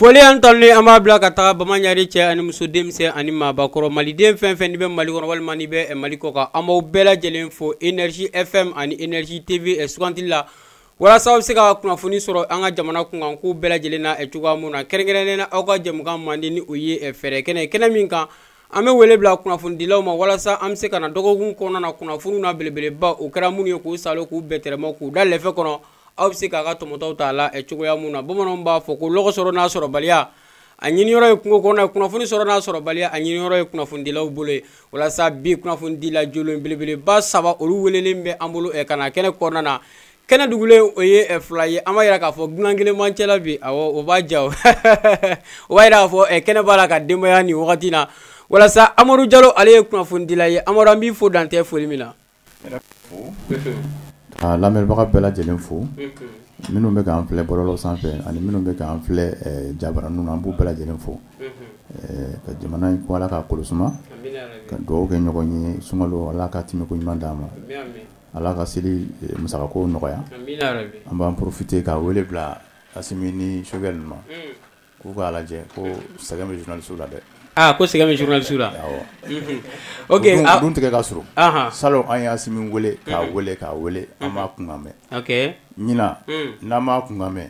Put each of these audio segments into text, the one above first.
foli ani tanuni an b'a bila ka taga bamaɲari cɛ ani muso denmisɛn ani maabakɔrɔ maliden fɛn fɛn n'i bɛ mali kɔnɔ walima n'i bɛ eh, mali kɔkan an b'aw bɛɛ lajɛlen fo energie fm ani energie tv eh, sugandili la walasa aw bɛ se ka kunnafoni sɔrɔ an ka jamana kunkan kow bɛɛ lajɛlen na cogoya minnu na kɛrɛnkɛrɛnnen na aw ka jɛmukan mandi ni o ye fɛɛrɛ kɛnɛ kɛnɛ min kan an bɛ wele bila kunnafonidilaw ma walasa an bɛ se ka na dɔgɔkun kɔnɔna na kunnafoniw na belebeleba o kɛra minnu ye k'u salo k'u bɛɛtɛrɛma k'u da lɛfɛ kɔnɔ aw bɛ se k'a ka tɔmɔtaw t'a la cogoya minnu na bamananw b'a fɔ ko lɔgɔ sɔrɔ n'a sɔrɔbaliya a ɲiniyɔrɔ ye kungo kɔnɔ ye kunnafoni sɔrɔ n'a sɔrɔbaliya a ɲiniyɔrɔ ye kunnafonidilaw bolo ye walasa bi kunnafonidila jolen belebeleba saba olu welelen bɛ an bolo eh, ka na kɛnɛ kɔnɔna na kɛnɛ dugulen o ye eh, fila ye an b'a yira k'a fɔ dunan kelen b'an cɛla bi awɔ o b'a ja o o b'a yira k'a fɔ eh, kɛnɛ b'a la ka denbaya nin wagati na walasa amadu jalo ale ye kunnafonidila ye amadu an b'i fo dan tɛ foli min na A lamɛnbaga bɛɛ lajɛlen fo minnu bɛ k'an filɛ bɔlɔlɔ sanfɛ ani minnu bɛ k'an filɛ jabaranin na an b'u bɛɛ lajɛlen fo ka jamana in ko ala ka kolo suma ka dugawu kɛ ɲɔgɔn ye suma ala ka tɛmɛko ɲuman d'an ma ala ka seli musakako nɔgɔya an b'an porofite ka wele bila Asimi ni Choguel ma K'u k'a lajɛ ko sɛgɛn bɛ journaliste la dɛ, aa ko sɛgɛn bɛ journaliste la, awɔ, unhun, ok o don tigɛ ka surun, anhan, salon an ye Asimi wele k'a wele k'a wele an m'a kunkan mɛn, ok, ɲinan n'an m'a kunkan mɛn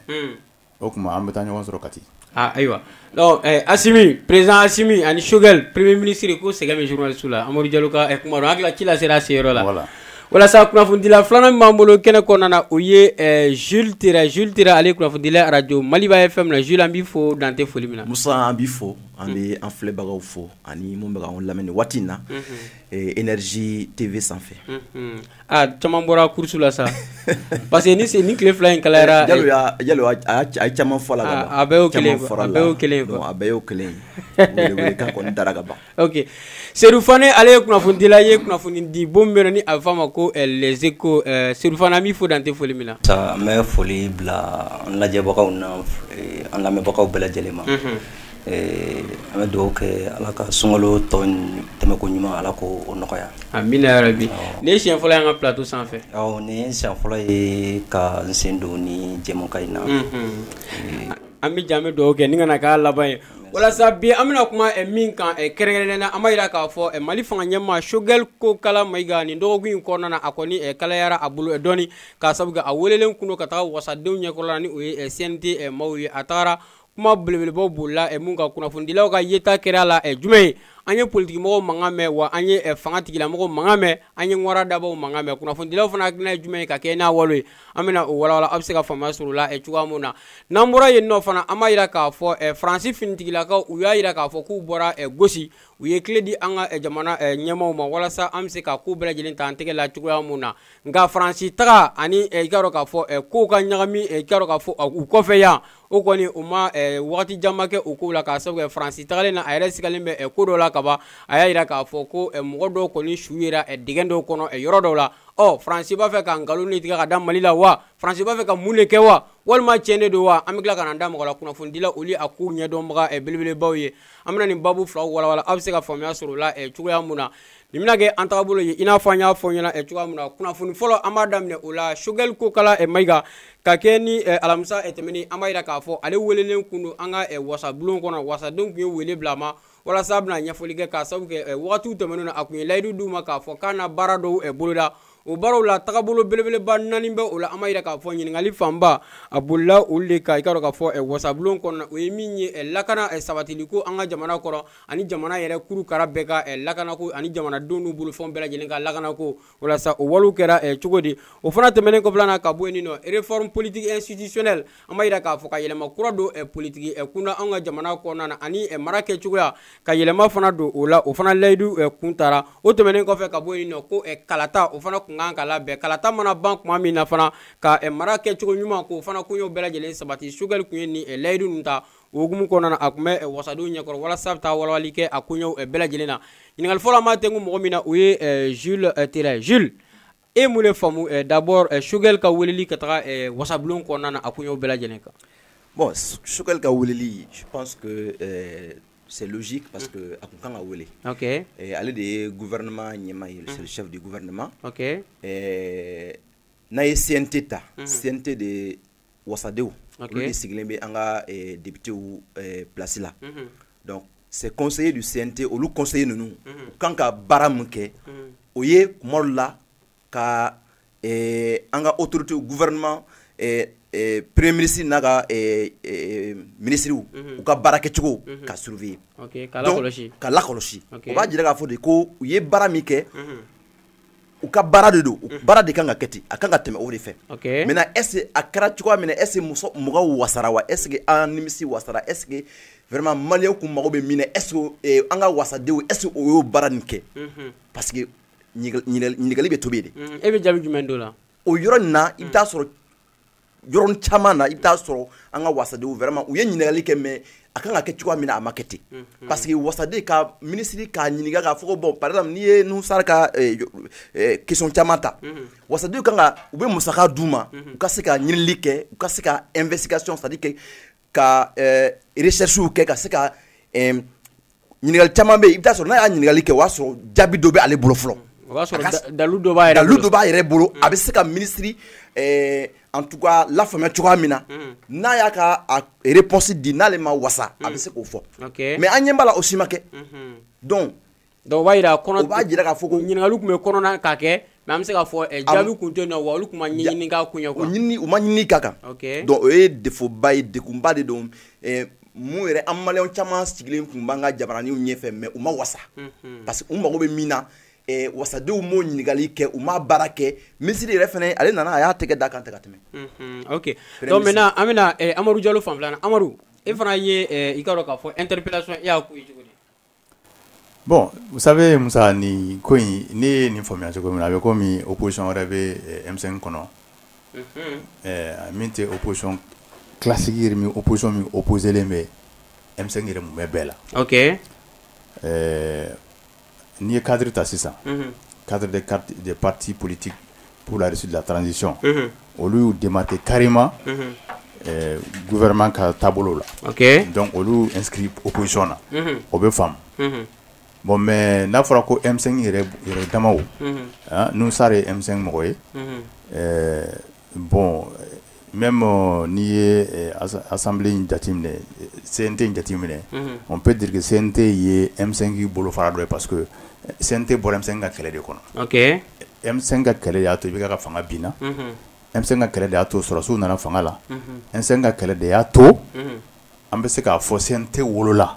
o tuma an bɛ taa ɲɔgɔn sɔrɔ Kati, aa ayiwa, donc Asimi, president Asimi ani Choguel premier ministre ko sɛgɛn bɛ journaliste la Amadu Jalo ka kuma don, an hakili la ci lasera a se yɔrɔ la, voilà walasa kunnafonidila filanan min b'an bolo kɛnɛ kɔnɔna na o ye ɛɛ Jules Tera Jules Tera ale ye kunnafonidila ye arajo Maliba FM na Jules an b'i fo dan tɛ foli min na. Musa an b'i fo an bɛ an filɛbagaw fo ani minnu bɛ k'an lamɛn nin waati in na ɛɛ Energie TV sanfɛ. Unhun aa caman bɔra course la sa parce que nin sen in tile fila in kalayara. Jalo y'a jalo a y'a a ye caman fɔ a la ka ban. A bɛɛ y'o kelen ye a bɛɛ y'o kelen ye quoi a bɛɛ y'o kelen ye wele wele kan kɔni dara ka ban. ok sedu fane ale ye kunnafonidila ye kunnafoni di bon min bɛ ni a bɛ f'a ma ko eh, les échos eh, sedu fane an b'i fo dan tɛ foli min na musa n bɛ foli bila an lajɛbagaw na eh, an lamɛnbagaw bɛɛ lajɛlen ma mhm. an bɛ dugawu kɛ ala ka sunkalo tɔ tɛmɛko ɲuman ala ko o nɔgɔya amina yarabi nin ye siɲɛ fɔlɔ y'an ka plateau sanfɛ awɔ nin ye siɲɛ fɔlɔ ye ka n sen don nin jɛmukan in na mhm. an bɛ jan an bɛ dugawu kɛ nin kana k'a laban ye walasa bi an bɛna kuma eh, min kan eh, kɛrɛnkɛrɛnnen na an b'a jira k'a fɔ eh, mali fanga ɲɛmaa sogɛl kokala mayiga nin dɔgɔkun in kɔnɔna na a kɔni kalayara a bolo dɔɔni k'a sabu kɛ a welelen kun don ka taga wasadenw ɲɛkɔrɔla ni o ye cnt maaw ye a tagara kuma belebelebaw bolila min kan kunnafonidilaw ka yeta kɛra a la jumɛn ye an ye politikimɔgɔw mankan mɛn wa an ye fanga tigilamɔgɔw mankan mɛn an ye ŋwara dabaw mankan mɛn kunnafonidilaw fana hakilina ye jumɛn ye ka kɛ n'a walew ye an bɛna o walawala aw bɛ se ka faamuya sɔrɔ o la eh, cogoya min na n'an bɔra yen nɔ fana an b'a jira k'a fɔ eh, faransi finitigilakaw u y'a jira k'a fɔ k'u bɔra eh, gosi u ye kile di an ka jamana ɲɛmaaw ma walasa an bɛ se ka ko bɛɛ lajɛlen ta an tɛgɛ la cogoya min na nka faransi taga ani i k'a dɔn k'a fɔ kow ka ɲagami i k'a dɔn k'a fɔ u kɔfɛ yan o kɔni o ma eh, wagati janba kɛ o kow la k'a sabu kɛ faransi tagalen na a yɛrɛ sigalen bɛ eh, ko dɔ la kaban a y'a yira k'a fɔ ko eh, mɔgɔ dɔw kɔni su yera eh, dingɛ dɔw kɔnɔ eh, yɔrɔ dɔw la ɔ oh, faransi b'a fɛ ka nkalon ni tigɛ ka da mali la wa faransi b'a fɛ ka mun de kɛ wa walima tiɲɛ de don wa an bɛ tila ka na da mɔgɔ la kunnafonidila olu a koɲɛ dɔnbaga eh, belebelebaw ye an bɛna nin babu filaw walawala aw bɛ se ka faamuya sɔrɔ o la eh, cogoya min na nin bɛna kɛ an tagabolo ye i n'a fɔ an y'a fɔ ɲɛna eh, cogoya min na kunnafoni fɔlɔ an b'a daminɛ o la sogɛli kokala eh, mayiga ka kɛ ni eh, alamisa tɛmɛnen an b'a yira k'a fɔ ale welelen kun don an ka wasabulon kɔnɔ wasadenw kun ye wele bila a ma walasa a bɛna ɲɛfɔli kɛ k'a sabu kɛ wagatiw tɛmɛnenw na a kun ye layidu d'u ma k'a fɔ k'a na baara dɔw boloda o baaraw la tagabolo belebeleba naani bɛ o la an b'a yira k'a fɔ ɲininkali fanba a bolila olu de kan i k'a dɔn k'a fɔ eh, wasabulon kɔnɔna o ye min ye eh, lakana eh, sabatili ko an ka jamana kɔrɔn ani jamana yɛrɛ kuru kara bɛɛ ka lakanako ani jamanadenw n'u bolofɛnw bɛɛ lajɛlen ka lakanako walasa o walew kɛra cogo di o fana tɛmɛnen kɔfɛla na ka bɔ yen nɔ réforme politique institutionnelle an b'a jira k'a fɔ ka yɛlɛma kura don eh, politiki eh, kunda an ka jamana kɔnɔna na ani eh, mara kɛ cogoya ka yɛlɛma fana don o la o fana layidu kun tara o tɛmɛnen kɔfɛ ka bɔ yen nɔ ko kalata o fana kun kan ka labɛn kalata mana ban kuma min na fana ka mara kɛ cogo ɲuman k'o fana koɲɛw bɛɛ lajɛlen sabati sogɛli kun ye nin layidu ninnu ta o hukumu kɔnɔna na a kun bɛ wasadenw ɲɛkɔrɔ walasa a bɛ taa walawali kɛ a koɲɛw bɛɛ lajɛlen na ɲininkali fɔlɔ an b'a tɛnku mɔgɔ min na o ye jules tera jules e ye mun de faamu eh, d'abord eh, Choguel ka weleli ka taga eh, wasabulon kɔnɔna na a koɲɛw bɛɛ lajɛlen kan bon Choguel ka weleli je pense que eh, c'est logique parce que a kun kan ka wele ok eh, ale de ye gouvernement ɲɛmaa ye c'est le chef du gouvernement ok eh, n'a ye CNT ta CNT de wasadenw olu de sigilen bɛ an ka eh, depitew eh, plasi la mhm. donc c'est conseiller du cnt olu conseiller ninnu u mhm. kan ka baara min kɛ mhm. o ye kuma dɔ la ka eh, an ka autoritéw gouvernement premier ministre n'a ka minisiriw u ka baarakɛcogo k'a surveiller k'a lakɔlɔsi o b'a jira k'a fɔ de ko u ye baara min kɛ u ka baara de don baara de kan ka kɛ ten a kan ka tɛmɛ o de fɛ maintenant est-ce que a kɛra cogoya min est-ce que mɔgɔw wasara wa est-ce que an nimisi wasara est-ce que vraiment maliyɛn tun mago bɛ min na est-ce que an ka wasadenw est-ce que u y'o baara nin kɛ parce que ɲininkali bɛ tobi de e bɛ jaabi jumɛn don la o yɔrɔ nin na i bɛ t'a sɔrɔ yɔrɔ caman na i bɛ taa sɔrɔ an ka wasadenw vraiment u ye ɲininkali kɛ mais a kan ka kɛ cogoya min na a ma kɛ ten mhm. parce que wasaden ka minisiri k'a ɲininka k'a fɔ ko bon par exemple n'i ye Nouhoum Sarr ka eh, eh, question caman ta mhm. wasadenw kan ka u bɛ musaka d'u ma mhm. u ka se ka ɲinili kɛ u ka se ka investigation c'est à dire que ka eh, recherches kɛ ka se ka eh, ɲininkali caman bɛ yen i bɛ taa sɔrɔ n'a y'a ɲininkali kɛ o y'a sɔrɔ jaabi dɔ bɛ ale bolo fɔlɔ o b'a sɔrɔ dalu dɔ b'a yɛrɛ dalu dɔ b'a yɛrɛ bolo a bɛ se ka minisiri eh, en tout cas lafaamuya cogoya min na mm. n'a y'a ka réponse di n'ale ma wasa a bɛ mm. se k'o fɔ mais an ɲɛ b'a la o si ma kɛ mm-hmm. donc Donc o b'a jira kɔnɔ, o b'a jira k'a fɔ ko ɲininkali tun bɛ kɔnɔ na ka kɛ mais an bɛ se k'a fɔ jaabi tun tɛ yen nɔ wa olu tun ma ɲɛɲini k'a kun ye quoi, ɲinini u ma ɲinini kɛ a kan, ok, donc o ye défaut ba ye degunba de don ɛɛ mun yɛrɛ an maliyɛn caman sigilen tun b'an ka jabaraninw ɲɛfɛ mais u ma wasa, unhun, parce que u mago bɛ min na ɛɛ wasadenw m'o ɲininkali kɛ u ma baara kɛ minisiri yɛrɛ fana ale nana a y'a tɛgɛ d'a kan ten ka tɛmɛ, unhun, ok, donc maintenant an bɛna Amadu Jalo fanfɛla la, Amadu e fana ye i k'a dɔn k'a fɔ interpellation e y'a kun ye cogo di Bɔn musa musa ni ko in ne ye nin faamuyaya cogo min a bɛ komi o kosi wɛrɛ bɛmisɛn kɔnɔ min tɛ o kosɔn kilasigi min o kosɔn min o koseelen bɛ emisɛn yɛrɛ bɛ bɛɛ la ɛɛ n'i ye kadi ta sisan kari de pati politi pour la réussite de la transition unhun olu y'u démarquer carrément unhun euh, gouvernement ka taabolo la ok donc olu inscrit opposition na unhun o bɛ faamu unhun bon mais n'a fɔra ko M5 yɛrɛ yɛrɛ damaw unhun hein, Nouhoum Sarr ye M5 mɔgɔ ye unhun euh, bon Même n'i ye assemblée in jateminɛ CNT in jateminɛ on peut dire que CNT ye M5 bolofara dɔ ye parce que CNT bɔra M5 ka kɛlɛ de kɔnɔ M5 ka kɛlɛ de y'a to IBK ka fanga binna M5 ka kɛlɛ de y'a to sɔrɔdasiw nana fanga la M5 ka kɛlɛ de y'a to an bɛ se k'a fɔ CNT wolola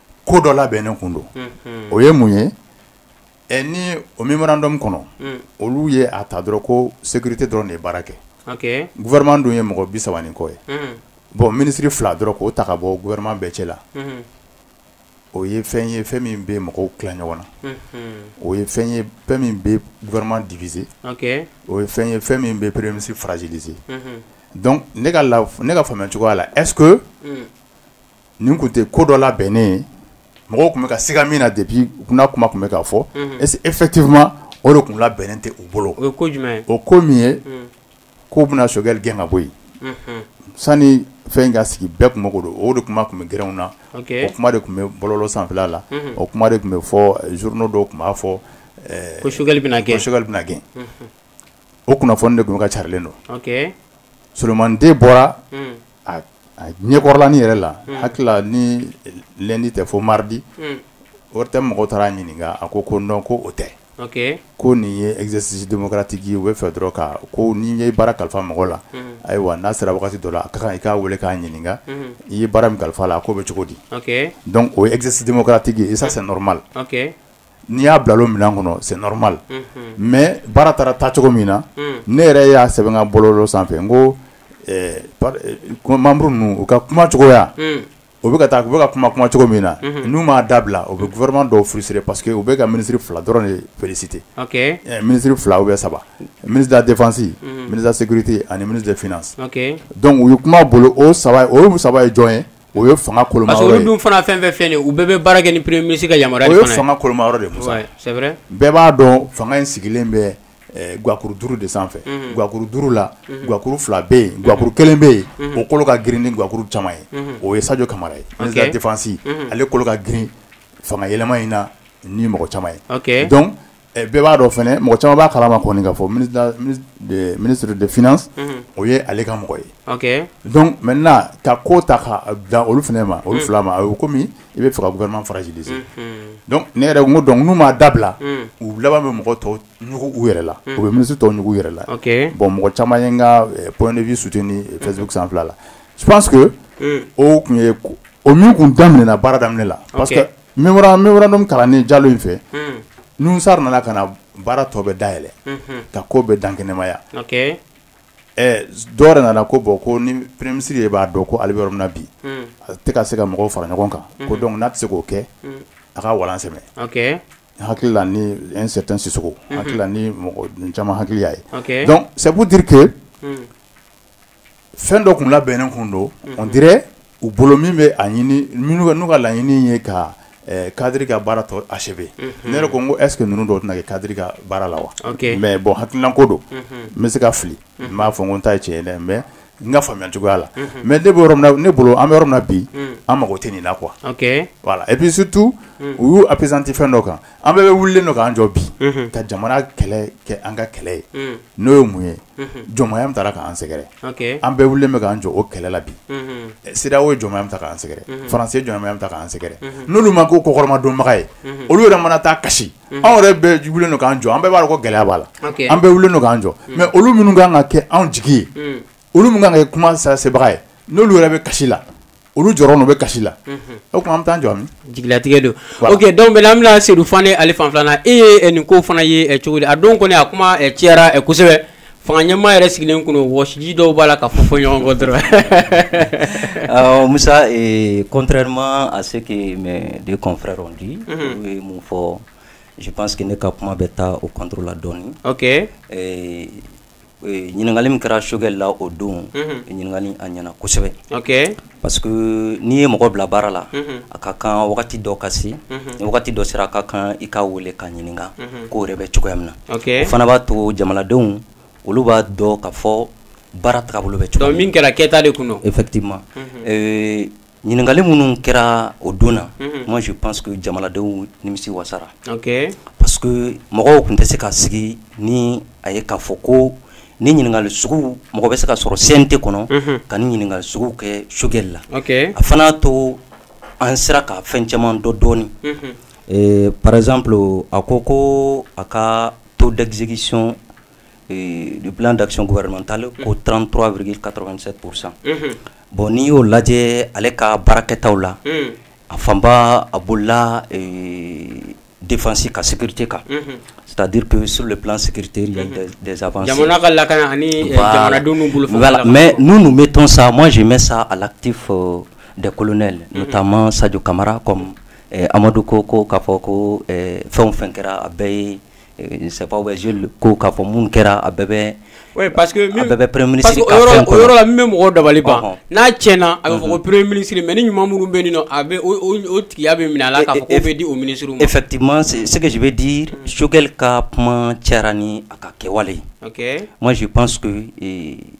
ko dɔ labɛn ne kun don o ye mun ye ɛ ni o mémorandum kɔnɔ olu ye a ta dɔrɔn ko sécurité dɔrɔn de ye baara kɛ gouvernement dun ye mɔgɔ mugan ni kɔ ye bɔn minisiri fila dɔrɔn k'o ta ka bɔ gouvernement bɛɛ cɛ la o ye fɛn ye fɛn min bɛ mɔgɔw ki ɲɔgɔn na o ye fɛn ye fɛn min bɛ gouvernement diviser o ye fɛn ye fɛn min bɛ premier ministre fragiliser ne ka faamu cogoya la ɛs nin tun tɛ ko dɔ labɛnnen ye mɔgɔ tun bɛ ka siga min na de bi kunna kuma tun bɛ ka fɔ en fait o de tun labɛnnen tɛ u bolo o o ko min ye ko bɛna Choguel gɛn ka bɔ yen sani fɛn ka sigi bɛɛ tun k'o dɔn o de kuma tun bɛ gw na o kuma de tun bɛ bɔlɔlɔ sanfɛ la o kuma de tun bɛ fɔ journaux la dɔ tun b'a fɔ ko Choguel bɛna gɛn Choguel bɛna gɛn o kunnafoni de tun ka calen don somanden bɔra ɲɛkɔrɔla ni yɛrɛ la hakili la ni lundi tɛ fo mardi ORTM mɔgɔ taara a ɲininka a ko ko non ko o tɛ ko nin ye exercice démocratique ye u b'a fɛ dɔrɔn ka ko n'i ye baara kalifa mɔgɔ la ayiwa n'a sera waati dɔ la a ka kan i k'a weele k'a ɲininka i ye baara min kalifa a la a ko bɛ cogo di donc o ye exercice démocratique ye ça c'est normal n'i y'a bila o minɛn kɔnɔ c'est normal mais baara taara ta cogo min na ne yɛrɛ y'a sɛbɛn n ka bɔlɔlɔ sanfɛ n ko membres ninnu u ka kuma cogoya u bɛ taa u bɛ ka kuma kuma cogo min na n'u m'a dabila u bɛ gouvernement dɔw frustrer parce que u bɛ ka ministre fila dɔrɔn de féliciter ministre fila u bɛ saba ministre de la défense ministre de la sécurité ani ministre des finances donc u ye kuma bolo o saba o ye saba ye jɔn ye o ye fanga koloma yɔrɔ ye, parce que olu dun fana fɛn fɛn filɛ nin ye u bɛɛ bɛ baara kɛ ni premier ministre ka yamaruya de fana ye, o ye fanga koloma yɔrɔ de ye Musa, ouais c'est vrai, bɛɛ b'a dɔn fanga in sigilen bɛ eh, guwakuru duuru de sanfɛ, unhun, guwakuru duuru la, unhun, guwakuru fila bɛ yen, guwakuru kelen bɛ yen, unhun, o kolo ka girin ni guwakuru caman ye, unhun, o ye Sadio Kamara ye, okay, ministre de la défense, unhun, ale kolo ka girin fanga yɛlɛma in na ni mɔgɔ caman ye, okay, donc Eh, bɛɛ b'a dɔn fana mɔgɔ caman b'a kalama kɔni ka fɔ ministre de finance mhm. o ye ale ka mɔgɔ ye donc maintenant ka ko ta ka bila olu fana ma olu mhm. fila ma a bɛ komi i b'a fɛ ka gouvernement fragiliser mhm. donc ne yɛrɛ ko donc n'u m'a dabila u laban bɛ mɔgɔ tɔw ɲugu u yɛrɛ la u bɛ ministre tɔw ɲugu u yɛrɛ la bon mɔgɔ caman ye n ka eh, point de vue soutenu eh, Facebook sanfɛla la je pense que o tun ye o min tun daminɛna baara daminɛ la parce que mémorandum kalannen Jalo in fɛ, un, Nuhun Sar nana ka na baara tɔ bɛɛ dayɛlɛ, unhun, ka ko bɛɛ dankɛnɛmaya, ok, ɛ dɔ wɛrɛ nana ko bon ko ni premier ministre yɛrɛ b'a dɔn ko ale bɛ yɔrɔ min na bi, un, a tɛ ka se ka mɔgɔw fara ɲɔgɔn kan, unhun, ko donc n'a tɛ se k'o kɛ, un, a ka walan sɛmɛ, ok, n hakili la ni un certain Sisoko, unhun, n hakili la ni mɔgɔ caman hakili y'a ye, ok, donc c'est pour dire que un fɛn dɔ tun labɛnnen tun don mhm. on dirait u bolo min bɛ a ɲini minnu n'u ka laɲini ye ka eh, kadiri ka baara tɔ achever mhm. ne yɛrɛ ko n ko est ce que ninnu dɔw tɛna kɛ kadiri ka baara la wa mais bon hakilinako don mhm. n bɛ se ka fili n t'a fɔ n ko n ta ye tiɲɛ ye dɛ mais n ka faamuya cogoya la mais ne bɛ yɔrɔ min na ne bolo an bɛ yɔrɔ min na bi an mago tɛ nin na quoi voilà et puis surtout u y'u appesanti fɛn dɔ kan an bɛɛ wulilen don k'an jɔ bi ka jamana kɛlɛ kɛ an ka kɛlɛ ye n'o ye mun ye jɔnmaya min tara k'an sɛgɛrɛ an bɛɛ wulilen bɛ k'an jɔ o kɛlɛ la bi c'est-à-dire o ye jɔnmaya min ta k'an sɛgɛrɛ France ye jɔnmaya min ta k'an sɛgɛrɛ n'olu ma ko kɔkɔrɔmadonbaga ye olu yɛrɛ fana taa kasi anw yɛrɛ bɛɛ wulilen don k'an jɔ an bɛɛ b'a dɔn ko gɛlɛya b'a la an bɛɛ wulilen don k'an jɔ mais olu minnu ka kan ka kɛ anw jigi ye olu min ka kan ka kɛ kuma sebaga ye n'olu yɛrɛ bɛ kasi la olu jɔyɔrɔ n'u bɛ kasi la o tuma an bɛ taa jɔ min jigilatigɛ don ok donc bon an bɛna sedu fan ale fan filanan e ye nin ko fana ye cogo di a don kɔni a kuma cayara kosɛbɛ fanga ɲɛmaa yɛrɛ sigilen tun don wɔsiji dɔw b'a la ka fɔ fɔ ɲɔgɔn kɔ dɔrɔn musa contrairement à ce que mes deux confrères ont dit ye min fɔ je pense que ne ka kuma bɛ taa o kɔnla dɔɔnin ɲininkali min kɛra Choguel la o don ɲininkali a ɲɛna kosɛbɛ parce que n'i ye mɔgɔ bila baara la a ka kan wagati dɔ ka se ni wagati dɔ sera a ka kan i k'a wele k'a ɲininka ko yɛrɛ bɛ cogoya min na o fana b'a to jamanadenw olu b'a dɔn k'a fɔ baara taabolo bɛ cogo min kɛra kɛta de tun effectivement ɲininkali minnu kɛra o don na mhm. moi je pense que jamanadenw nimisi wasara okay. parce que mɔgɔw tun tɛ se ka sigi ni a ye k'a fɔ ko nin ɲininkali sugu mɔgɔ bɛ se ka sɔrɔ CNT kɔnɔ mhm. ka nin ɲininkali sugu kɛ Choguel la okay. a fana y'a to an sera ka fɛn caman dɔn dɔɔni mhm. eh, par exemple a ko ko a ka taux d'exécution eh, du plan d'action gouvernementale ko 33,87 pour cent Bon n'i y'o lajɛ ale ka baarakɛtaw la a fanba a bolola defasi ka sete kan sadi pe sur de sete ka laka mɛ n bɛ tɔn sa ma zi bɛ sa a lati fɔ de kolonɛ n taa ma saj kamara amadu ko ko k'a fɔ ko fɛn fɛn kɛra a bɛɛ ye Safaw bɛ ko k'a fɔ minnu kɛra a bɛɛ bɛ bɛ mɔgɔ dabali ban n'a tiɲɛna a bɛ fɔ ko perere minisiri mɛ ni ɲuman minnu bɛ nin a bɛ tigiya bɛ minɛ a e bɛ di o mini efɛti sɛgɛsi bɛ di sokɛli ka kuma cayara ni a ka kɛwale masi pan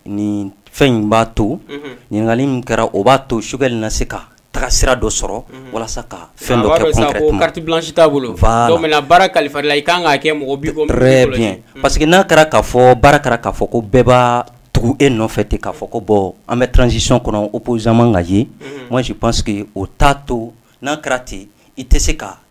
ni fɛn in b'a to ɲininkakali kɛra o b'a to sokɛkɛ na se kan taga sira dɔ sɔrɔ walasa ka fɛn dɔ kɛ concrètement carte blanche t'a bolo voilà donc maintenant baara kalifa la i ka kan k'a kɛ mɔgɔ b'i kɔ très bien parce que n'a kɛra k'a fɔ baara kɛra k'a fɔ ko bɛɛ b'a tugu e nɔfɛ ten k'a fɔ ko bon an bɛ transition kɔnɔ opposition man kan ka ye moi je pense que o t'a to n'a kɛra ten i tɛ se ka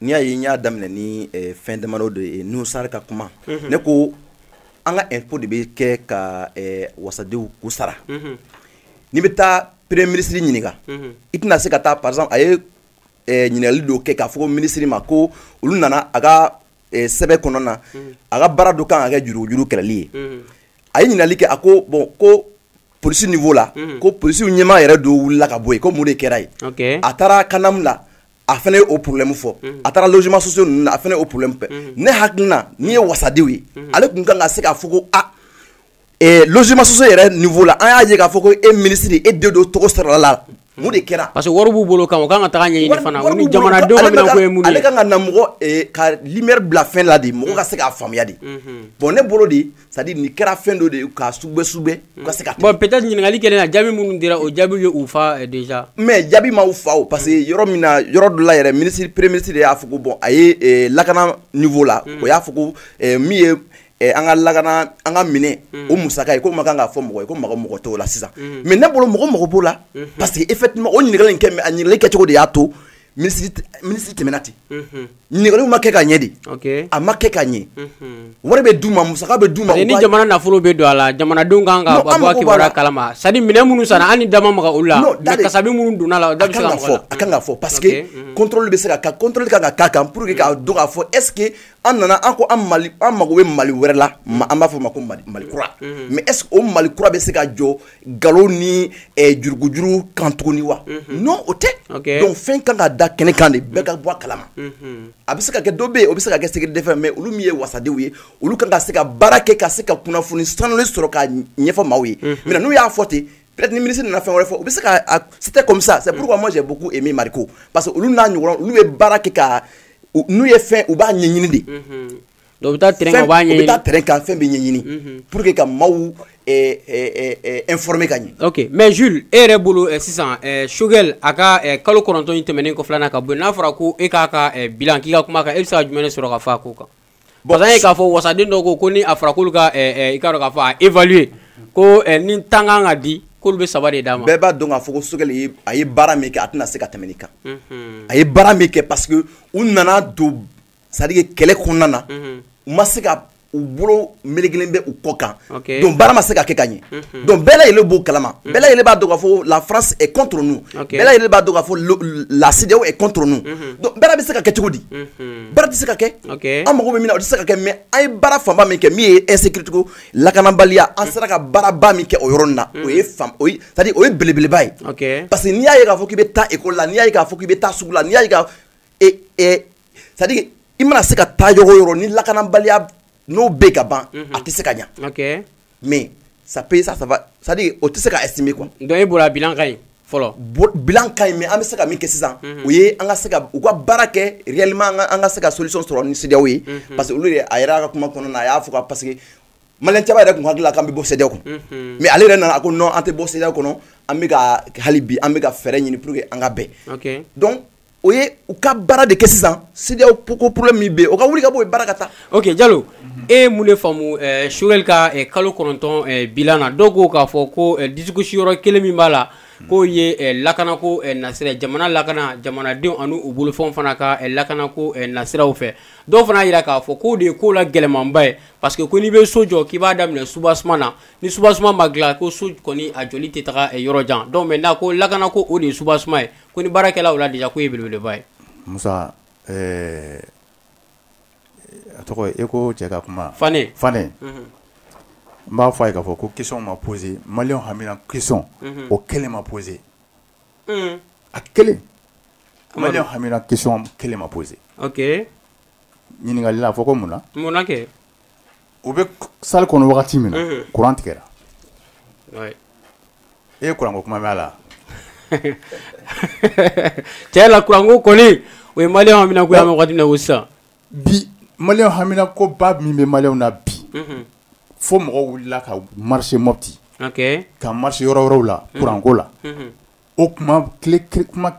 n'i y'a ye n y'a daminɛ ni eh, fɛn damadɔ de ye nusari ka kuma mhm. ne ko an ka impôt de bɛ kɛ ka eh, wasadenw k'u sara mhm. n'i bɛ taa premier ministre ɲininka mhm. i tɛna se ka taa par exemple a ye eh, ɲininkali dɔ kɛ k'a fɔ ministre ma ko olu nana a ka sɛbɛn kɔnɔ na a ka baara dɔ kan ka kɛ jurugujurugu kɛlɛli ye a ye ɲininkali kɛ a ko bon ko polisi niveau la ko polisiw ɲɛmaa yɛrɛ dɔ wulila ka bɔ yen ko mun de kɛra yen a taara CANAM la a fana ye o problème fɔ mhm. a taara logements sociaux ninnu na a fana ye o problème fɔ mhm. ne hakilina n'i ye wasadenw ye mhm. ale tun kan ka se k'a fɔ ko a eh, logements sociaux yɛrɛ niveau la an y'a ye k'a fɔ ko e ministre e den dɔ tɔgɔ sɔrɔla a la mun de kɛra parce que wari b'u bolo kan u kan ka taga ɲɛɲini fana u ni jamanadenw ka minɛn ko ye mun ye ale kan ka na mɔgɔ eh, ka lumière bila fɛn la de mɔgɔ ka se k'a faamuya de bon ne bolo de c'est-à-dire nin kɛra fɛn dɔ de ye ka sogobɛ sogobɛ u ka se ka bon peut-être ɲininkali kɛlen na jaabi minnu dira o jaabi ye u fa eh, déjà mais jaabi ma u fa o parce que mm. yɔrɔ min na yɔrɔ dɔ la yɛrɛ ministre premier ministre de y'a fɔ ko bon a ye eh, lakana niveau la mm. o y'a fɔ ko eh, min ye Eh, an ka lakana an ka minɛn mm. o musaka ye k'o man kan ka fɔ mɔgɔ ye ko mɔgɔ mako t'o la sisan mm. mais ne bolo mɔgɔ mako b'o la mm-hmm. parce que effectivement o ɲininkali in kɛ a ɲininkali kɛcogo de y'a to minisiri tɛmɛna ten ɲininkali ma kɛ ka ɲɛ de a ma kɛ ka ɲɛ wari bɛ du ma mu bɛ du ma ni jamana nafolo bɛ don a la jamanadenw kan ka kalama sa minɛn minnu sara an ni dama ma olu la dasa minnu donna la da fɔ a kan ka fɔ parce que i bɛ se ka kali ka ka kan pour que k'a don k'a fɔ est-ce que an nana an ko an mako bɛ Mali wɛrɛ la an b'a fɔ a ma ko Mali kura mais est-ce o Mali kura bɛ se ka jɔ nkalon ni eh, jurugujurugu kan tuguni wa mhm. non o tɛ donc fɛn kan ka da kɛnɛ kan de bɛɛ ka bɔ a kalama mhm. a bɛ se ka kɛ dɔ bɛ yen o bɛ se ka kɛ secret défense mais olu min ye wasadenw ye olu kan ka se ka baara kɛ ka se ka kunnafoni sanulen sɔrɔ ka ɲɛfɔ maaw ye mhm. mais n'u y'a fɔ ten peut-être ni ministre nana fɛn wɛrɛ fɔ u bɛ se ka c'était comme ça c'est pourquoi moi j'ai beaucoup aimé Mariko parce que olu n'a ɲɔgɔn olu bɛ baara kɛ ka n'u ye fɛn u b'a ɲɛɲini de donc u bɛ taa terrain kan u b'a ɲɛɲini u bɛ taa terrain kan fɛn bɛ ɲɛɲini mhm. pour que ka maaw eh, eh, eh, informer ka ɲɛ. ok mais Jules e yɛrɛ bolo sisan Choguel a ka kalo kɔnɔntɔn in tɛmɛnen kɔ filanan ka bɔ yen n'a fɔra ko e k'a ka bilan k'i ka kuma kan e bɛ se ka jumɛn de sɔrɔ ka fɔ a ko kan. parce que an ye k'a fɔ wasaden dɔ ko ko ni a fɔra k'olu ka i k'a dɔn k'a fɔ a évaluer ko ni tan kan ka di k'olu bɛ saba de d'a ma. bɛɛ b'a dɔn k'a fɔ ko Choguel ye a ye baara min kɛ a tɛna se ka tɛmɛ nin kan. Mhm. a ye baara min kɛ parce que u nana don. c'est-à-dire que kɛlɛ kɔnɔna na u ma se ka u bolo melekelen bɛ u kɔ kan donc baara ma se ka kɛ ka ɲɛ donc bɛɛ yɛrɛ b'o kalama bɛɛ yɛrɛ b'a dɔn k'a fɔ lafara kɔntun bɛɛ yɛrɛ b'a dɔn k'a fɔ ladi kɔntun bɛɛ bɛ se ka kɛ cogo di bɛɛ tɛ se ka kɛ an mako min o tɛ se ka kɛ mais a ye baara fanba min kɛ min ye insécurité ko lakanabaliya an sera ka baaraba min kɛ o yɔrɔ na o ye o ye belebeleba ye parce que n'i y'a ye k'a fɔ k'i bɛ taa école la n'i'a k'a fɔ k'i bɛ taa sugu la n'i'a c'est à dire i mana se ka taa yɔrɔ o yɔrɔ ni lakanabaliya n'o bɛ ka ban a tɛ se ka ɲɛ ok mais ça peut ça ça va c'est à dire o tɛ se ka estimer quoi donc e bolo a bilan ka ɲi fɔlɔ bilan ka ɲi mais an bɛ se ka min kɛ sisan o ye an ka se ka u ka baara kɛ réellement an ka an ka se ka solution sɔrɔ ni CEDEAO ye parce que olu yɛrɛ a yɛrɛ ka kuma kɔnɔna na a y'a fɔ ka parce que maliyɛn caman yɛrɛ tun hakili la k'an bɛ bɔ CEDEAO kɔnɔ mais ale yɛrɛ nana a ko non an tɛ bɔ CEDEAO kɔnɔ an bɛ ka hali bi an bɛ ka fɛɛrɛ ɲini pour que an ka bɛn ok donc o ye u ka baara de kɛ sisan c'est à dire ko problème bɛ o ka wuli ka bɔ baara ka taa ok Jalo e ye mun de faamu Choguel ka kalo kɔnɔntɔn bilan na dɔw ko k'a fɔ ko discussion yɔrɔ kelen min b'a la k'o ye lakana ko nasira jamana lakana jamanadenw ani u bolofɛn fana ka lakana ko nasira fɛ dɔw fana y'a jira k'a fɔ k'o de ye ko la gɛlɛmanba ye parce que ko n'i bɛ so jɔ k'i b'a daminɛ soubassement na ni soubassement ma dilan ko so kɔni a joli tɛ taa yɔrɔ jan maintenant ko lakana ko o de ye soubassement ye ko ni baarakɛlaw la déjà k'o ye belebeleba ye musa eh, a tɔgɔ e ko cɛ ka kuma fa fa n b'a fɔ a ye k'a fɔ ko question ma posé maliyɛnw hamina question mhm. o kelen ma posé mhm. a kelen mali hamina question kelen ma posé ɲininkali a fɔ ko mun na kɛ u bɛ salle kɔnɔ wagati min na kuran tigɛra e ye kuranko kuma b'a la cɛ la kuranko kɔni o ye mali hamina ko sa bi mali hamina ko ba min bɛ maliyɛnw na bi fo mɔgɔw wulila ka marche Mopti ka marche yɔrɔ yɔrɔw la kuranko la o kuma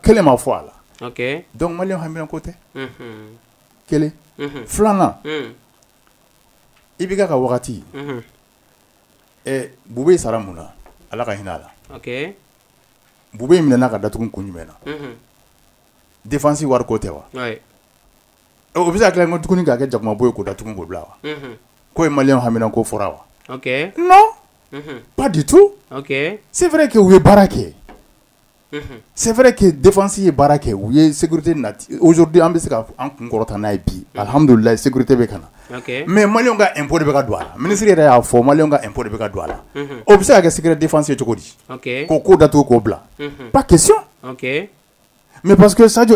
kelen ma fɔ a la donc mali hamina ko tɛ kelen filanan IBK ka wagati Boubèye sara mun na ala ka hinɛ a la Boubèye minɛna ka datugu kun jumɛn na défense wari ko tɛ wa o bɛ se ka k'o tugu k'a kɛ jakuma bo ye k'o datugu k'o bila wa ko ye maliyɛnw hamina ko fɔra wa non pas du tout c'est vrai que u ye baara kɛ c'est vrai que défense ye baara kɛ u ye sécurité nati aujourd'hui an bɛ se ka an kun kɔrɔta n'a ye bi alihamdulila sécurité bɛ ka na mais maliyɛnw ka impôt de bɛ ka don a la minisiri yɛrɛ y'a fɔ maliyɛnw ka impôt de bɛ ka don a la o bɛ se ka kɛ secret défense ye cogo di k'o k'o datugu k'o bila pas question mais parce que sajlu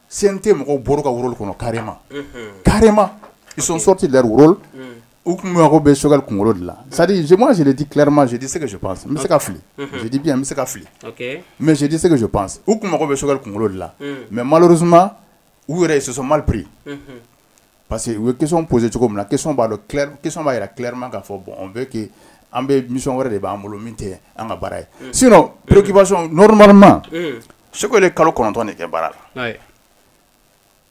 sen tɛ mɔgɔw bolo ka woro kɔnɔ karima karima i son sɔrɔ tɛ la woro u tun mago bɛ sokɛ kunkolo dilan sadi zman siri di tilama sidi se kasu pan n bɛ se ka fili sidi bi bɛ se ka fili mɛ sidi se kasu pan u tun mago bɛ sokɛ kunkolo dilan mɛ mari suma u yɛrɛ ye sososɔ mari parce que u ye question poser cogo min na question b'a dɔn clair question b'a jira clairement k'a fɔ bon on veut que an bɛ mission wɛrɛ de b'an bolo min tɛ an ka baara ye mm. sinon mm. préoccupation normalement mm. Choguel ye kalo kɔnɔntɔn de kɛ baara la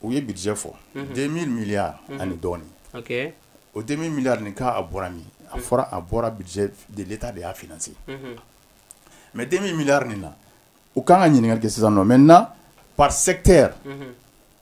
u ye budget fɔ 2000 mm-hmm. milliards mm-hmm. ani dɔɔni o 2000 milliards nin k'a bɔra min a fɔra a bɔra budget de l'état de y'a financer mm-hmm. mais 2000 milliards nin na u kan ka ɲininkali kɛ sisan nɔ maintenant par secteur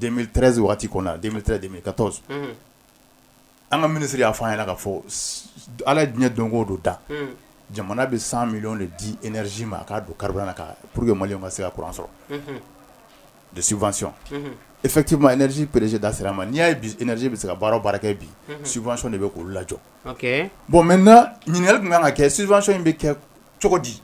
2013 waati kɔnɔ 2013 2014 unhun, an ka minisiri y'a fɔ an ɲɛna k'a fɔ Ala ye diɲɛ don o don dan, unhun, jamana bɛ 100 millions de di énergie ma a k'a don carburant na ka pour que maliyɛnw ka se ka courant sɔrɔ, unhun, de subvention, unhun, effectivement énergie PDG da sera a ma n'i y'a ye bi énergie bɛ se ka baara o baara kɛ bi, unhun, subvention de bɛ k'olu lajɔ, ok, bon maintenant ɲininkali tun ka kan ka kɛ subvention in bɛ kɛ cogo di?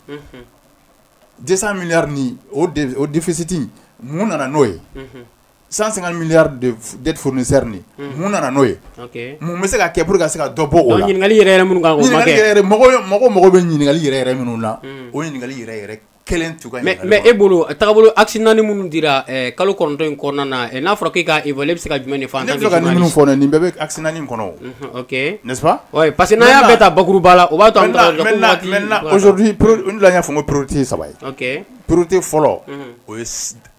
200 milliards nin o de o déficit in mun nana n'o ye unhun 150 milliards de f dettes fournisseurs nin unhun mun nana n'o ye ok mun bɛ se ka kɛ pour que ka se ka dɔ bɔ o la donc ɲininkali yɛrɛ yɛrɛ minnu kan k'o ma kɛ ɲininkali yɛrɛ yɛrɛ mɔgɔ y mɔgɔ mago bɛ ɲininkali yɛrɛ yɛrɛ minnu na unhun o ɲininkali yɛrɛ yɛrɛ kelen t'u ka mais ɲininkali mais kɔnɔ e bolo tagabolo axe 4 minnu dira ɛɛ kalo 9 in kɔnɔna na ɛ n'a fɔra k'e k'a évaluer e bɛ se ka jumɛn de fɔ en ne tant bɛ que fɛ ka ni minnu journaliste fɔ dɛ nin bɛɛ bɛ axe 4 in kɔnɔ o unhun Ok. N'est-ce pas Oui, parce que n'an y'a bɛɛ ta bakuruba la, o b'a to an bɛ taga dɔrɔn ko waati. Maintenant, maintenant, aujourd'hui, n delila k'a fɔ ko priorité ye saba ye. Ok. Priorité fɔlɔ. Unhun. O ye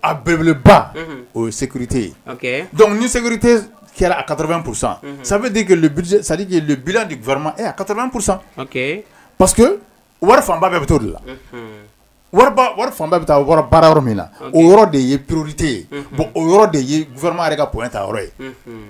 a belebeleba. Unhun. O ye sécurité ye. Ok. Donc ni sécurité kɛra à 80 pour cent. Unhun. Ça veut dire que le budget, c'est à dire que le bilan du gouvernement est à 80 pour cent. Ok. Parce que wari fanba bɛɛ bɛ t'o de la. Unhun. Wariba wari fanba bɛ taa wari baara yɔrɔ min na. Ok. O yɔrɔ de ye priorité ye. Unhun. Bon o yɔrɔ de ye gouvernement yɛrɛ ka point ta yɔrɔ ye. Unhun.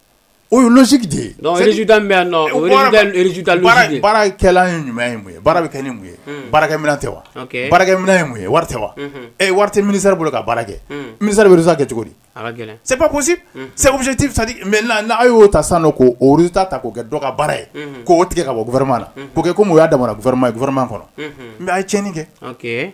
O ye logique de ye donc résultat min bɛ yan nɔ o ye résultat l résultat logique de ye baara baara kɛlan ye jumɛn ye mun ye baara bɛ kɛ ni mun ye unhun baarakɛminɛn tɛ wa ok baarakɛminɛn ye mun ye wari tɛ wa unhun ee wari tɛ ministère bolo ka baara kɛ unhun ministère bɛ résultat kɛ cogo di a ka gɛlɛn c'est pas possible unhun c'est objectif c'est à dire maintenant n'a' y'o ta sisan nɔ k'o o résultat ta k'o kɛ dɔ ka baara ye unhun k'o tigɛ ka bɔ gouvernement na unhun k'o kɛ comme o y'a damana gouvernement ye gouvernement kɔnɔ unhun mais a' ye tiɲɛni kɛ ok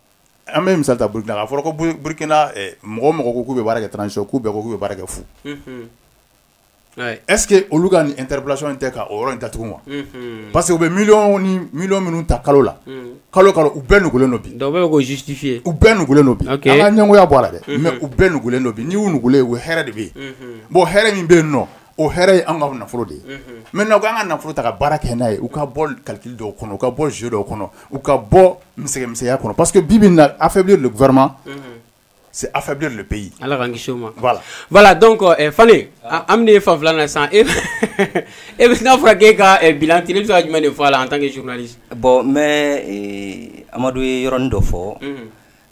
An bɛ misali ta Burukina kan, a fɔra ko Burukina mɔgɔ o mɔgɔ ko k'u bɛ baara kɛ transition k'u bɛɛ ko k'u bɛ baara kɛ fu, unhun, est ce que olu ka nin interpellation in tɛ ka o yɔrɔ in datugu wa? unhun, parce que u bɛ miliyɔn ni miliyɔn minnu ta kalo la, unhun, kalo o kalo u bɛɛ nugulen don bi, donc u bɛɛ bɛ k'o justifier u bɛɛ nugulen don bi, ok, an ka ɲɛngoya bɔ a la dɛ, unhun, mais u bɛɛ nugulen don bi, n'i y'u nugulen ye u hɛrɛ de bɛ yen, unhun, bon hɛrɛ min bɛ yen nɔ O hɛrɛ ye an ka nafolo de ye mɛ na' an ka nafolo ta ka baara kɛ n'a ye u ka bɔ kaliki dɔw kɔnɔ u ka bɔ zo dɔw kɔnɔ u ka bɔ misɛnmisɛnya kɔnɔ pa que bi na a fɛ vma se a fɛ don bɛ yen ala ma dɔn kɔ fa an ye fan filanan san e e bɛ n'a fɔra e ka bila t bɛ se jumɛn de fɔ a la an tan kɛ bɔn mɛ amadu ye yɔrɔɔrɔnin dɔ fɔ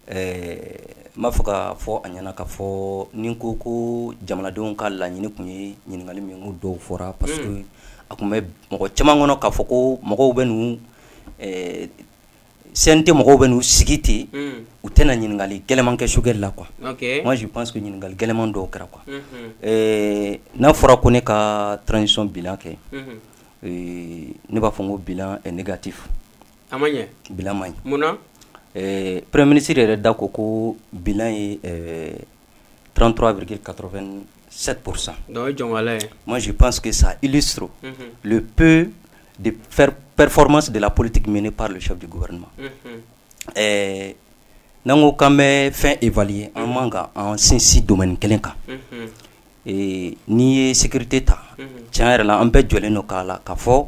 Ɛɛ n b'a fɔ ka fɔ a ɲɛna ka fɔ ni ko ko jamanadenw ka laɲini tun ye ɲininkali min ko dɔw fɔra parce que a tun bɛ mɔgɔ caman kɔnɔ k'a fɔ ko mɔgɔw bɛ n'u CNT mɔgɔw bɛ n'u sigi ten u tɛna ɲininkali gɛlɛnman kɛ Choguel la quoi je pense ɲininkali gɛlɛnman dɔw kɛra quoi ɛɛ n'a fɔra ko ne ka son bilan kɛ ne b'a fɔ ko bilan est négatif a ma ɲɛ bilan man ɲi munna ɛɛ premier ministre yɛrɛ da ko ko bilan ye ɛɛ 33,87 pour cent donc o ye jɔnŋala ye moi je pense que ça illustre unhun le peu de performance de la politique menée par le chef du gouvernement unhun ɛɛ n'an ko k'an bɛ fɛn évaluer an man kan k'an sinsin domaine kelen kan unhun ee n'i ye sécurité ta unhun tiɲɛ yɛrɛ la an bɛɛ jɛlen don k'a la ka fɔ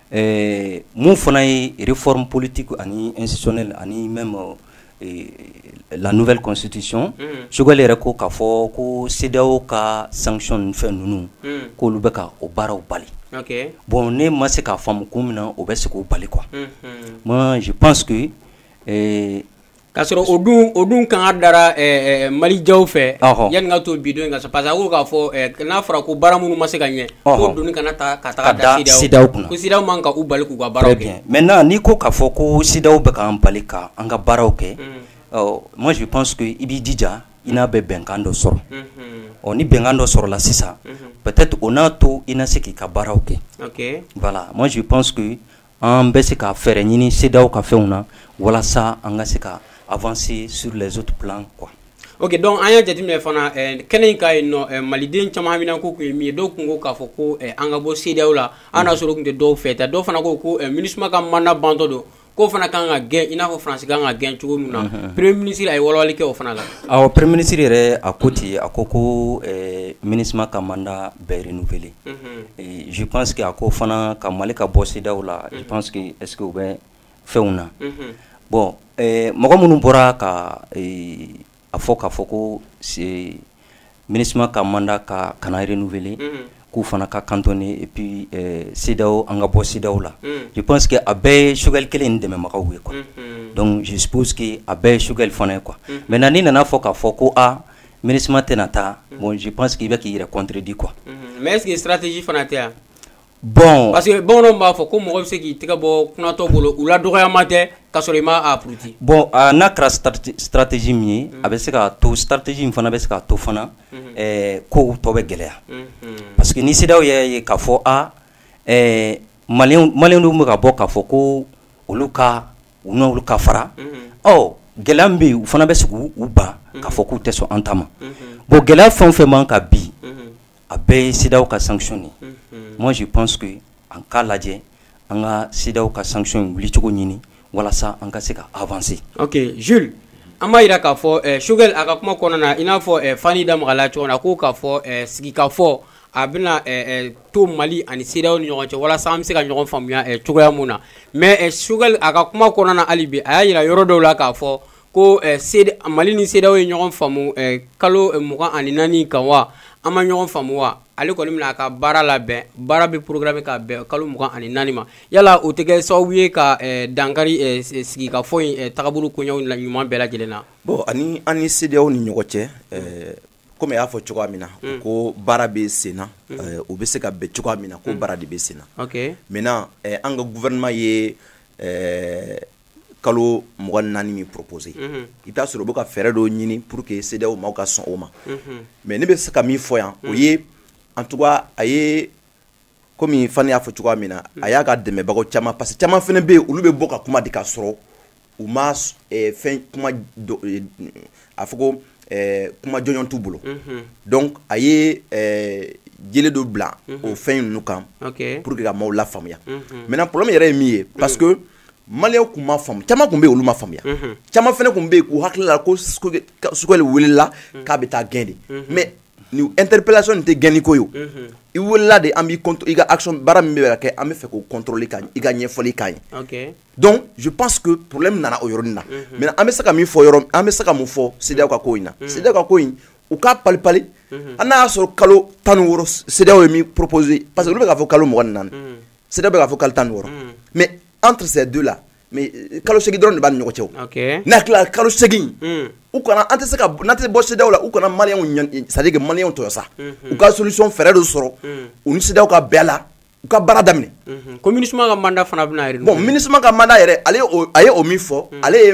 Ɛɛ min fana ye réforme politique ani institutionnelle ani même la nouvelle constitution Choguel yɛrɛ ko k'a fɔ ko CEDEAO ka sanction ni fɛn ninnu k'olu bɛ ka o baaraw bali, ok, bon ne ma se k'a faamu kun min na u bɛ se k'o bali quoi, unhun, moi je pense que Ka sɔrɔ o dun o dun kanga dara ɛɛ Mali jaw fɛ. Ɔhɔ! Yanni n ka to bi don in kan sa parce que a ko k'a fɔ ɛɛ n'a fɔra ko baara minnu ma se ka ɲɛ. Ɔhɔ! K'o doni kana taa ka taga da CEDEAO kunna. Ka da CEDEAO kunna. Ko CEDEAO man kan ka u bali k'u ka baaraw kɛ. Très bien, maintenant n'i ko k'a fɔ ko CEDEAO bɛ k'an bali ka an ka baaraw kɛ. Unhun! Ɔ moi je pense que i b'i jija i n'a bɛ bɛnkan dɔ sɔrɔ. Unhun! Ɔ ni bɛnkan dɔ sɔrɔla sisan. Unhun! Peut-être o n'a to i na se k'i ka baaraw kɛ. Ok! Voilà, moi je pense que An bɛ se ka fɛɛrɛ ɲini CEDEAO ka fɛnw na walasa an ka se ka avancer sur les autres plans quoi ok donc an ye jate min fana kɛnɛ in ka ye maliden caman min ko tun ye min ye dɔw tun ko k'a fɔ ko an ka bɔ CEDEAO la an y'a sɔrɔ tun tɛ dɔw fɛ ta dɔw fana ko ko Minusma ka mandat bantɔ don k'o fana ka kan ka gɛn i n'a fɔ Faransi ka kan ka gɛn cogo min na premier ministre a ye wawale kɛ o fana la ɔ premier ministre yɛrɛ a ko ten a ko ko Minusma ka mandat bɛ renouveler je pense que a ko fana ko Mali ka bɔ CEDEAO la je pense que est-ce que u bɛ fɛnw na bon mɔgɔ minnu bɔra ka a fɔ ka fɔ ko Minusma ka mandat ka kana renouveler k'u fana ka cantonner et puis CEDEAO an ka bɔ CEDEAO la je pense que a bɛɛ ye Choguel kelen in dɛmɛbagaw ye quoi donc je suppose que a bɛɛ ye Choguel fana ye quoi maintenant n'i nana fɔ k'a fɔ ko aa Minusma tɛna taa bon je pense i bɛ k'i yɛrɛ contredire quoi mais est-ce que stratégie fana tɛ yan bon parce que bamananw b'a fɔ ko mɔgɔ bɛ se k'i tɛgɛ bɔ kunatɔ bolo la dɔgɔma tɛ ka sɔrɔ i ma pti bon n'a kɛra stratégie min ye a bɛ se ka to stratégie in fana bɛ se ka to fana ko tɔ bɛ gɛlɛya parce que ni CEDEAO y'a ye k'a fɔ a malidenw bɛ ka bɔ k'a fɔ ko olu ka u n ka fara o gɛlɛya min bɛ u fana bɛ se k'u ban k'a fɔ k'u tɛ sɔn an ta ma bon gɛlɛya fɛn o fɛn b'an kan bi a bɛɛ ye CEDEAO ka sanction de moi je pense que an k'a lajɛ an ka CEDEAO ka sanction wulicogo ɲini walasa an ka se ka avancer ok Jules an b'a jira k'a fɔ Choguel a ka kuma kɔnɔna na i n'a fɔ fani da magala cogo na k' k'a fɔ sigikafɔ a bɛna to mali ani CEDEAO ni ɲɔgɔn cɛ walasa an bɛ se ka ɲɔgɔn faamuya cogoya min na mais Choguel a ka kuma kɔnɔna hali bi a y'a jira yɔrɔ dɔw la k'a fɔ ko mali ni CEDEAO ye ɲɔgɔn faamu kalo mugan ani naani kan wa an ma ɲɔgɔn faamu wa ale kɔni bɛna a ka baara labɛn baara bɛ programme bɛ ka bɛn kalo mugan ani naani ma yala o tɛ kɛ sababu ye ka dankari sigikafɔ in taabolo koɲɔgɔnw la ɲuman bɛɛ lajɛlen na bɔn an ani CEDEAO ni ɲɔgɔn cɛ komi i y'a fɔ cogoya min na mm. ko baara bɛ senna mm. eh, u bɛ se ka bɛn cogoya min na ko mm. baara de bɛ senna maintenant eh, an ka gouvernement ye eh, kalo mugan ni naani min proposé mm-hmm. i b'a sɔrɔ u bɛ ka fɛɛrɛ dɔw ɲini pour que CEDEAO maaw ka sɔn o ma mm-hmm. mais ne bɛ se ka min fɔ yan o ye en tout cas a ye komi fani y'a fɔ cogoya min na a y'a ka dɛmɛbagaw caman parce que caman fana bɛ yen olu bɛ bɔ ka kuma di ka sɔrɔ u ma eh, fɛn kuma eh, a fɔ ko eh, kuma jɔnjɔn t'u bolo mhm. donc a ye yeelen dɔ bila mhm. o fɛn ninnu kan pour que ka maaw lafaamuya mhm. maintenant problème yɛrɛ ye min ye parce que maliyɛnw kun ma faamu caman kun bɛ yen olu ma faamuya caman fana kun bɛ yen k'u hakili la ko Choguel welela k'a bɛ taa gɛn de mais ni interpellation nin tɛ gɛnni ko ye o i welela de an b'i i ka action baara min bɛ ka kɛ an b'a fɛ k'o contrôler ka i ka ɲɛfɔli k'an ye donc je pense que problème nana o yɔrɔnin na maintenant an bɛ se ka min fɔ yɔrɔ an bɛ se ka mun fɔ CEDEAO ka ko in na CEDEAO ka ko in u k'a palipali hali n'a y'a sɔrɔ kalo tan ni wɔɔrɔ CEDEAO ye min proposer parce que olu bɛ k'a fɔ kalo mugan ni naani CEDEAO bɛ k'a fɔ kalo tan ni wɔɔrɔ mais entre ces deux là mais euh, kalo segin dɔrɔn de b'a ni ɲɔgɔn cɛ o n'a tilala kalo segin hmm. u kana an tɛ se ka n'a tɛ bɔ CEDEAO la u kana maliyɛnw c'est à dire que maliyɛnw tɔɲɔ sa hmm. u ka solution fɛɛrɛ dɔ sɔrɔ hmm. u ni CEDEAO ka bɛn la u ka baara daminɛ ko MINUSMA ka mandat fana bɛna renouveler bon MINUSMA ka mandat yɛrɛ ale a ye o min fɔ ale ye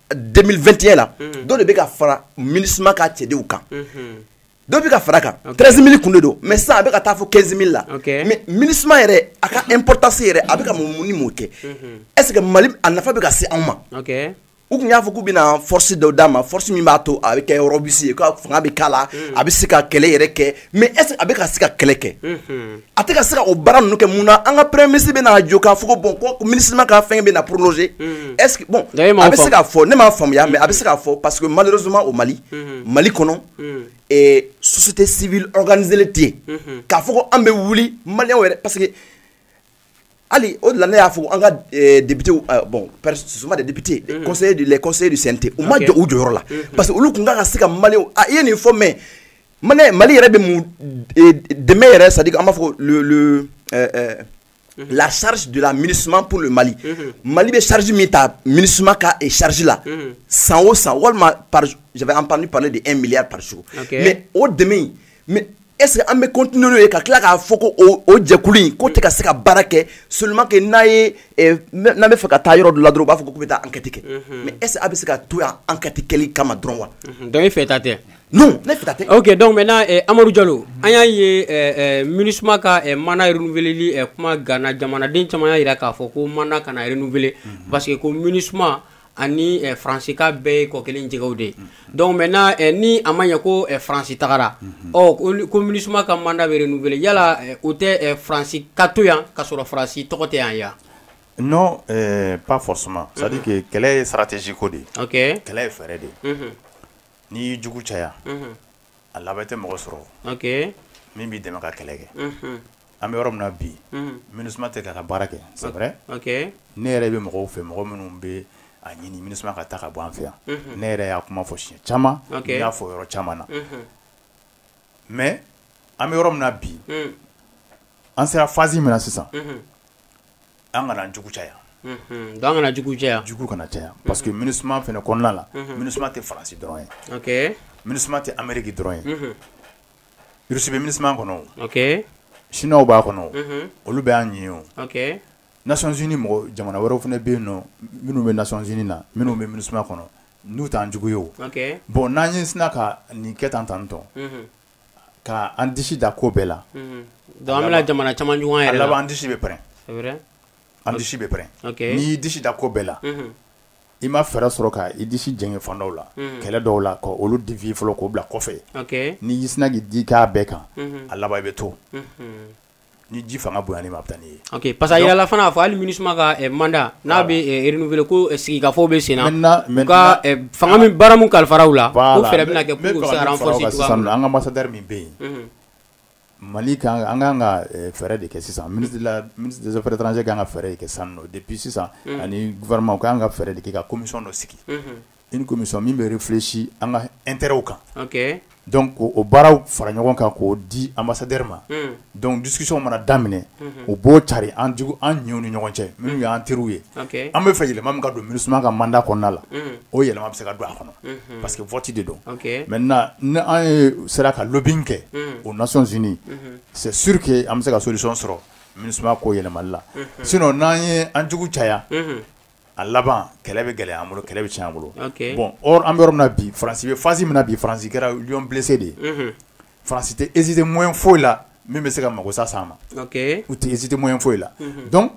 2021 la mhm. dɔ de bɛ ka fara MINUSMA ka cɛdenw kan mhm. dɔ bɛ ka fara a kan 13 mille kun de don mais sisan a bɛ ka taa fo 15 mille la mais MINUSMA yɛrɛ a ka importance yɛrɛ a bɛ ka mun ni mun kɛ est ce que mali a nafa bɛ ka se anw ma u tun y'a fɔ k'u bɛna force dɔ d'a ma force min b'a to a bɛ kɛ robuste ye ka fanga bɛ k'a la a bɛ se ka kɛlɛ yɛrɛ kɛ mais est ce que a bɛ ka se ka kɛlɛ kɛ a tɛ ka se ka o baara ninnu kɛ mun na an ka premier ministre bɛna a jɔ k'a fɔ ko bon ko MINUSMA ka fɛngɛ bɛna prolonger unhun est ce que bon donc e m'a faamu a bɛ se k'a fɔ ne m'a faamuya mais a bɛ se k'a fɔ parce que malheureusement au Mali unhun Mali kɔnɔ unhun ɛɛ société civile organisélen tɛ yen unhun k'a fɔ ko an bɛ wuli maliyɛnw yɛrɛ parce que hali o de la ne y'a fɔ an ka eh, député eh, bon ce sont pas des députés les mhm. conseillers du les conseillers du CNT u ma jɔ u jɔyɔrɔ la mhm. parce que olu tun kan ka se ka malien a ah, i ye nin fɔ mais malien Mali yɛrɛ bɛ mun eh, dɛmɛ yɛrɛ c'est à dire an b'a fɔ le le euh, euh, mhm. la charge de la MINUSMA pour le Mali Mali bɛ charge min ta MINUSMA ka eh, charge la san o san walima par j'avais entendu parler de 1 milliard par jour mais o dɛmɛ in mais est ce que an bɛ continuer n'o ye ka tila k'a fɔ ko o jɛkulu in k'o tɛ ka se ka baara kɛ seulement que n'a ye eh, n'an bɛ fɛ ka taa yɔrɔ dɔ la dɔrɔn u b'a fɔ k'u bɛ taa enquête kɛ mhm. mais est ce que a bɛ se ka to yan enquête kɛli kama dɔrɔn wa. Mhm. donc e fɛ ta tɛ. non ne fɛ ta tɛ. ok donc maintenant eh, Amadu Jalo an y'a ye eh, eh, MINUSMA ka eh, mandat renouveleli eh, kuma ganna jamanaden caman y'a jira k'a fɔ ko mandat kana renouveler mhm. parce que ko MINUSMA ani eh, faransi k'a bɛɛ ye kɔ kelen jɛgɛw de ye donc maintenant eh, ni a ma ɲɛ ko eh, faransi tagara ɔ ko MINUSMA ka mandat bɛ renouveler yala eh, o tɛ eh, faransi ka to yan ka sɔrɔ faransi tɔgɔ tɛ yan wa non eh, pas forcément c'est à dire que kɛlɛ ye stratégie ko de ye okay. kɛlɛ ye fɛɛrɛ de ye n'i y'i jugu caya a laban i tɛ mɔgɔ sɔrɔ min b'i dɛmɛ ka kɛlɛ kɛ an bɛ yɔrɔ min na bi MINUSMA tɛ k'a ka baara kɛ c'est vrai ne yɛrɛ bɛ mɔgɔw fɛ mɔgɔ minnu bɛ a ɲini MINUSMA ka taa ka bɔ an fɛ yan ne yɛrɛ y'a kuma fɔ siɲɛ caman y'a fɔ yɔrɔ caman na mais an bɛ yɔrɔ min na bi an sera phase min na sisan an kana jugu caya an kana jugu caya jugu kana caya parce que MINUSMA fana kɔnɔna la MINUSMA tɛ faransi dɔrɔn ye MINUSMA tɛ ameriki dɔrɔn ye Russie bɛ MINUSMA kɔnɔ sinuwaw b'a kɔnɔ olu bɛ an ɲɛ aux Nations Unies mɔgɔ jamana wɛrɛw fana bɛ yen nɔ minnu bɛ Nations Unies na minnu bɛ MINUSMA kɔnɔ n'u t'an jugu ye o bon n'an ye sina ka nin kɛ tan tan tɔn Ka an disi da ko bɛɛ la donc an bɛna jamana caman juguya an yɛrɛ la, a laban an disi bɛ pɛrɛn, c'est vrai an disi bɛ pɛrɛn, ok, n'i y'i disi da ko bɛɛ la, unhun, i ma fɛɛrɛ sɔrɔ ka i disi jɛngɛ fan dɔw la, unhun, kɛlɛ dɔw la ka olu devier fɔlɔ k'o bila kɔfɛ, ok, n'i y'i sina k'i digi a bɛɛ kan, unhun, a laban i bɛ to, unhun ni ji fanga bon ma taa ye ok parce que yalala fana a fɔ hali MINUSMA ka mandat n'a bɛ renouveler ko sigikafɔ bɛ sen fanga min baara min kalifara u la o fɛ bɛna kɛ sisan an ka ambassadeur min bɛ yen mali an ka kan ka fɛɛrɛ de kɛ sisan ministre des affaires étrangères ka kan ka fɛɛrɛ kɛ san depuis sisan ani gouvernement ka kan ka fɛɛrɛ de kɛ ka commission dɔ sigi une commission min bɛ réfléchi an ka intérêts kan, ok, donc k'o baaraw fara ɲɔgɔn kan k'o di ambassadeur ma, un, donc discussion mana daminɛ, unhun, u b'o carin an jugu an ɲɛw ni ɲɔgɔn cɛ minnu y'an teriw ye, ok, an bɛ fɛ yɛlɛma min ka don Minusma ka mandat kɔnɔna la, un, o yɛlɛma bɛ se ka don a kɔnɔ, unhun, parce que vote de don, ok, maintenant ni an ye sera ka lobbying kɛ, un, aux nations unies, unhun, c'est sûr que an bɛ se ka solution sɔrɔ Minusma ko yɛlɛmali la, unhun, sinon n'an ye an jugu caya, unhun a laban kɛlɛ bɛ gɛlɛya an bolo kɛlɛ bɛ tiɲɛ an bolo bon an bɛ na bi faransi face min na bi faransi kɛra lion blessé de ye faransi tɛ hésiter moyen foyi la min bɛ se k'a mako sa sa ma u tɛ hésiter moyen foyi la donc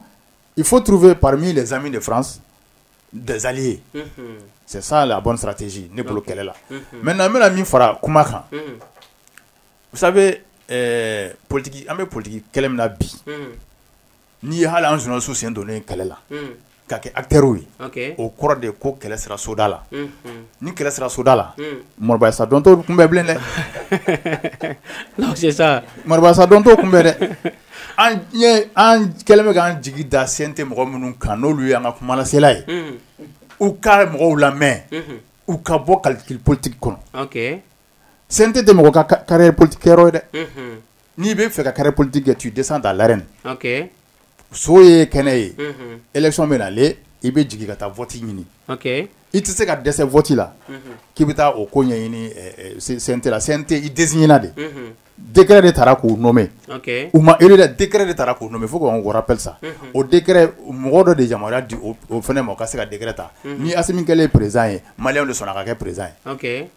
il faut trouver parmi des alliés de France des alliés c'est la bonne stratégie ne bolo kɛlɛ la maintenant an bɛna min fara kuma kan sa politigi an bɛ politigi kɛlɛ min na bi N'i ye hali an journalistes sen donnen kɛlɛ la, unhun, ka kɛ acteurs ye, ok, o kɔrɔ de ye ko kɛlɛ sera soda la, unhun, ni kɛlɛ sera soda la, unhun, mɔrɔbayasa dɔn t'o kunbɛn bilen dɛ, donc c'est ça, mɔrɔbayasa dɔn t'o kunbɛn dɛ, an ɲɛ an kɛlen bɛ k'an jigi da CNT mɔgɔ minnu kan n'olu y'an ka kumalasela ye, unhun, u ka mɔgɔw lamɛn, unhun, u ka bɔ calcul politique kɔnɔ, ok, CNT tɛ mɔgɔ ka carrière politique kɛyɔrɔ ye dɛ, unhun N'i bɛ fɛ ka kari politi kɛ tu dɛsɛ da lare so ye kɛnɛ ye esɔn bɛ na i bɛ jigin ka taa fɔti ɲini i tɛ se ka dɛsɛ fɔti la k'i bɛ taa o ko ɲɛɲinitɛte i de dɛkɛ de taara k'u nɔ mɛn u ma e de de taara k'u mɛn fo k' wɛrɛ psa o de mɔgɔ dɔ de yamaruya di o fana ma ka se ka dɛgɛrɛ ta ni a min kɛlen perez ye mali de sɔnna ka kɛ perez ye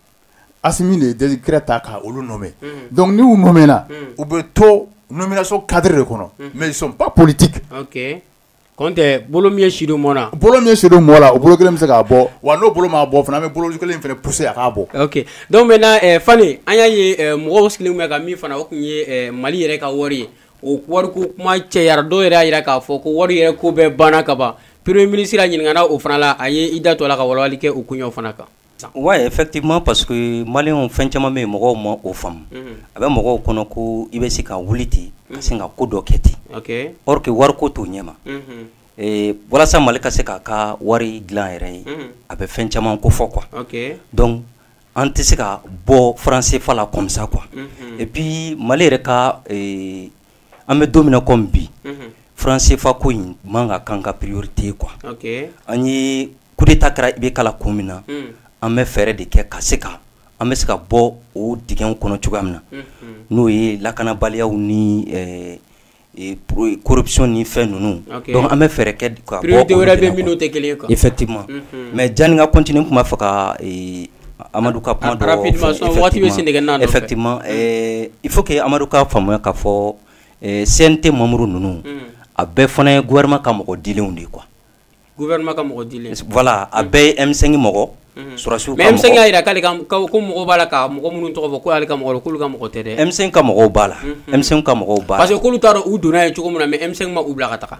Assimi de ye décret ta k' olu nommer donc n'u nommerna u bɛ to nomination cadre de kɔnɔ mais pas politique kɔntɛ bolo min sidɔn mɔn bolo min sidon mɔn la o bolo kelen bɛ se k'a bɔ wa n'o bolo ma bɔ fana bɛ bolo kelen fana pousser a k'a bɔ donc maintenant fana an y'a ye mɔgɔ sigilen bɛ ka min fana o tun ye mali yɛrɛ ka wari ye o wari ko kuma cɛyara dɔw yɛrɛ y'a jira k'a fɔ ko wari yɛrɛ ko bɛɛ banna kaban premier ministre ɲininkara o fana la a ye i da to la ka walawalali kɛ o ko fana kan Ouais effectivement parce que maliens fɛn caman bɛ mɔgɔw ma o faamu a bɛ mɔgɔw kɔnɔ ko i bɛ se ka wuli ten ka se ka ko dɔ kɛ ten or que wari ko t'o ɲɛ ma walasa mali ka se k'a ka wari dilan yɛrɛ ye a bɛ fɛn caman kofɔ quoi donc an tɛ se ka bɔ franc CFA la comme ça quoi et puis mali yɛrɛ ka an bɛ don min na comme bi franc CFA ko in man ka k'an ka priorité ye quoi an ye coup d'Etat kɛra IBK la kun min na an bɛ fɛɛrɛ de kɛ ka se ka an bɛ se ka bɔ o dingɛw kɔnɔ cogoya min na n'o ye lakanabaliyaw ni corruption ni fɛn ninnu donc an bɛ fɛɛrɛ kɛ ka bɔ priorité wɛrɛ bɛ yen minnu tɛ kelen ye quoi effectivement mais janni n ka continuer n tun b'a fɛ ka amadu ka kuma jaabi parce que effectivement il faut que amadu k'a faamuya k'a fɔ sen tɛ mamuru ninnu a bɛɛ fana ye gouvernement ka mɔgɔ dilenw de ye quoi a bɛɛ ye M5 mɔgɔ susiw y'a jira k'ale ka mɔgɔ b'a la ka mɔgɔ minnu tɔgɔ fɔ ko ale ka mɔgɔ kulu ka mɔgɔ tɛ dɛ e ka mɔgɔw b'a la e ka mɔgɔw ba k'olu taara u donna ye cogo min na mais e ma u bila ka taa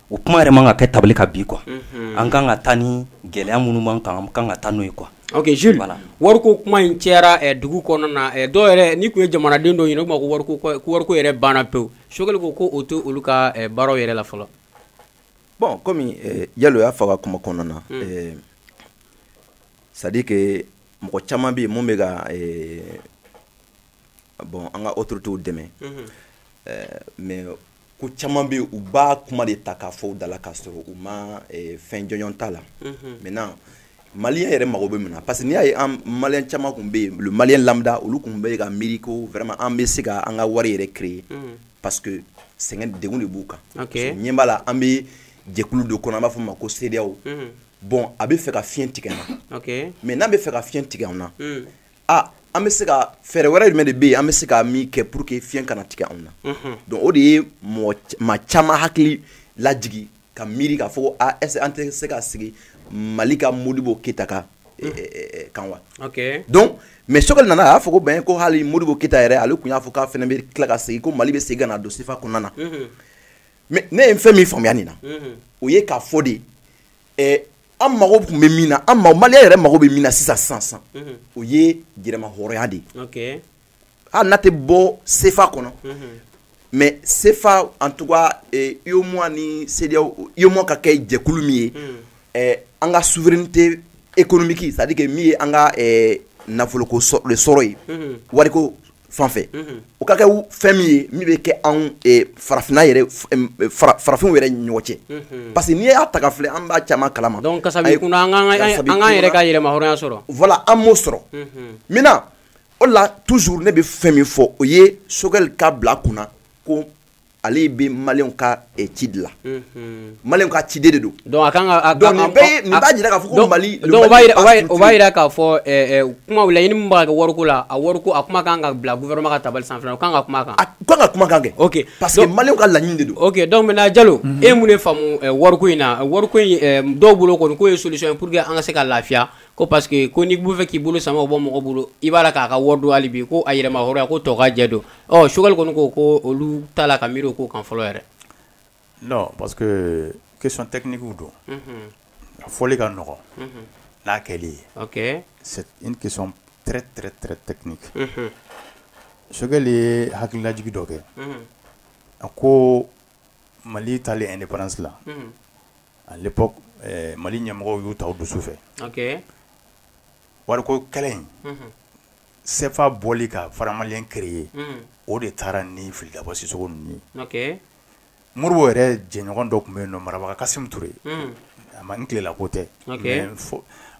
o kuma yɛrɛ man ka kɛ tabali kan bi quoi an kan ka taa ni gɛlɛya minnu man kan kan ka taa n'o ye quoi wari ko kuma in cayara dugu kɔnɔna na dɔw yɛrɛ ni tun ye jamanaden dɔ ɲini o ma wariko yɛrɛ banna pewu sogɛli ko ko o tɛ olu ka baaraw yɛrɛ la fɔlɔ bon comme jalo y'a fɔ a ka kuma kɔnɔna na c'est-à-dire que mɔgɔ caman bɛ yen minnu bɛ ka bon an ka autoritéw dɛmɛ mais ko caman bɛ u b'a kuma de ta k'a fɔ u dala k'a sɔrɔ u ma eh, fɛn jɔnjɔn t'a la mhm. maintenant maliyɛn yɛrɛ mago bɛ min na parce que n'i y'a ye an maliyɛn caman tun bɛ yen le maliyɛn lambda olu tun bɛ ka miiri ko vraiment an bɛ se ka an ka wari yɛrɛ créer mhm. parce que sɛgɛn degun de b'u kan ɲɛ b'a la an bɛ jɛkulu dɔ kɔnɔ an b'a fɔ ma ko CEDEAO mhm. bon a bɛ fɛ ka fiɲɛ tigɛ an na mais n'a bɛ fɛ ka fiɲɛ tigɛ an na a an bɛ se ka fɛɛrɛ wɛrɛ jumɛn de bɛ yen an bɛ se ka min kɛ pour que fiɲɛ kana tigɛ anw na mhm. donc o de ye mɔgɔ maa caman hakili lajigi ka miiri k'a fɔ ko a est-ce an tɛ se ka segin mali ka modibo keyita ka eh, mhm. eh, eh, kan wa donc mais sogɛli nana a y'a fɔ ko bon ko hali modibo keyita yɛrɛ ale tun y'a fɔ k'a fana bɛ tila ka segin ko mali bɛ segin ka na don sefa kɔnɔna na mhm. mais ne ye fɛn min faamuya nin na o ye k'a fɔ de an mago tun bɛ min na an mali yɛrɛ mago bɛ min na sisan san san mhm. o ye yɛrɛmahɔrɔnya de ye hali n'an tɛ bɔ sefa kɔnɔ mhm. mais sefa en tout cas UEMOA ni se UEMOA ka kɛ jɛkulu min ye mhm. e, an ka souveraineté économique c'est-à-dire min ye an ka e, nafoloko sɔrɔ ye wari fan fɛ o ka kɛ fɛn min ye min bɛ kɛ anw farafinna farafinw yɛrɛ ɲɔgɔn cɛ parce que n'i y'a ta k'a filɛ an b'a caman kalama an yɛrɛ ka yɛrɛmahɔrɔnya sɔrɔ voilà an m'o sɔrɔ maintenant o la toujours ne bɛ fɛn min fɔ o ye sogɛli k'a bila kun na ko ale bɛ maliyɛnw ka eh, ci de la mhm. maliyɛnw ka ciden de don donc a kan ka donc nin bɛɛ ye nin b'a jira k'a fɔ ko mali donc o b'a jira o b'a jira k'a fɔ eh, eh, kuma laɲini min b'a kɛ wariko la a wariko a kuma kan ka bila gouvernement ka tabali sanfɛ o kan ka kuma kan a kan ka kuma kan kɛ ok parce que maliyɛnw ka laɲini de don ok donc maintenant jalo mhm. e mun de faamu wariko in na wariko in dɔw bolo kɔni k'o ye solution ye pour que an ka se ka lafiya ko parce que ko n'i b'o fɛ k'i bolo sama o bɔ mɔgɔ bolo i b'a la k'a ka wari don hali bi ko a yɛrɛmahɔrɔnya ko tɔgɔ jɛ don Ɔ Sogɛli kɔni ko ko olu t'a la ka miiri o ko kan fɔlɔ yɛrɛ non parce que question technique don, unhun, a fɔli ka nɔgɔn, unhun, n'a kɛli ye, ok, c'est une question très très très technique, unhun, Sogɛli ye hakililajigin dɔ kɛ, unhun, a ko Mali taalen indépendance la, unhun, à l'époque ɛɛ Mali ɲɛmɔgɔw y'o ta u dusu fɛ, ok, wariko kɛlɛ in, unhun sefa bɔli ka faran maliyɛn créer o de taara ni Fili Dabo Sisɔkɔ ninnu ye Modibo yɛrɛ jɛɲɔgɔn dɔ tun bɛ yen nɔn marabaga Kasum Ture Hamadun Diko tɛ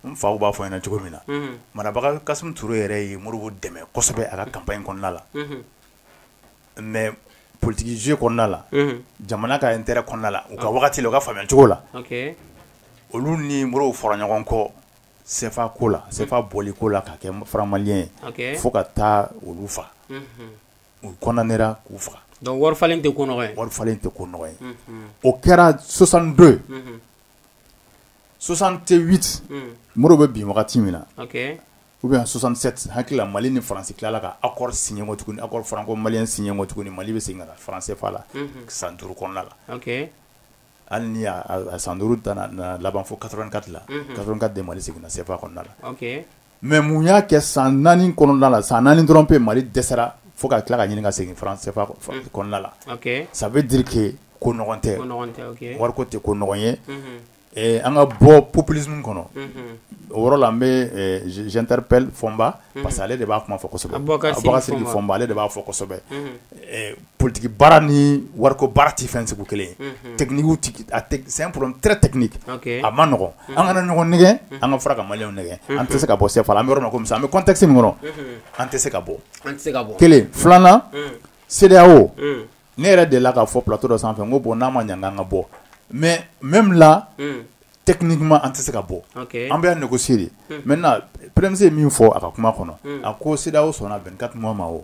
n fa b'a fɔ n ɲɛna cogo min na marabaga Kasum yɛrɛ ye Modibo dɛmɛ kosɛbɛ a ka kanpaɲi kɔnɔna la mɛ politigi jeu kɔnɔna la jamana ka intérêt kɔnɔna la u ka waati wagati u ka faamuyacogo la olu ni Modibo fɔra ɲɔgɔn kɔ sefa ko la sefa bɔli ko la ka kɛ faran maliyɛn ye fo ka taa olu fa u kɔndanera k'u faga donc wari falen tɛ ko wari falen tɛ ko nɔgɔn ye o kɛra soixante-deux soixante-huit Modibo bɛ bin wagati min na u bɛ soixante-sept hakili la mali ni faransi tilala ka akɔri siɲɛ tuguni akɔri franko mali siɲɛ tuguni mali bɛ segin ka faran sefa la san duuru kɔnɔna la hali ni a san duuru laban fo quatre-vingt-quatre de mali seginna sefa kɔnɔna la mɛ mun y'a kɛ san naani kɔnɔna la san naani dɔrɔn pe mali dɛsɛra fo ka tila ka ɲini ka segin kɔnɔna la ça veut dire que ko nɔgɔn tɛ wari tɛ ko nɔgɔn ye an ka bɔ populisme kɔnɔ o yɔrɔ la an bɛtari pp fɔba parce que ale de b'a kuma fɔ sɛbɛ fɔ ale de b'a fɔ politigi baara ni wariko baara tɛ fɛn sugu kelen tɛkiniki a man nɔgɔ an kana ɲɔgɔn nɛgɛn an ka fara ka maliyɛnw nɛgɛn an tɛ se ka bɔ sen an yɔrɔ kɔmi an bɛ contexte kɔnɔ an tɛ se ka bɔ bɔ kelen filanan CEDEAO ne yɛrɛ delila k'a fɔ plateau dɔ sanfɛ ko bɔn n'a ma ɲɛ an ka bɔ mais même là techniquement an tɛ se ka bɔ an bɛ négocier mɛ PM ye min fɔ a ka kuma kɔnɔ a ko CEDEAO sɔnna vingt-quatre mois ma o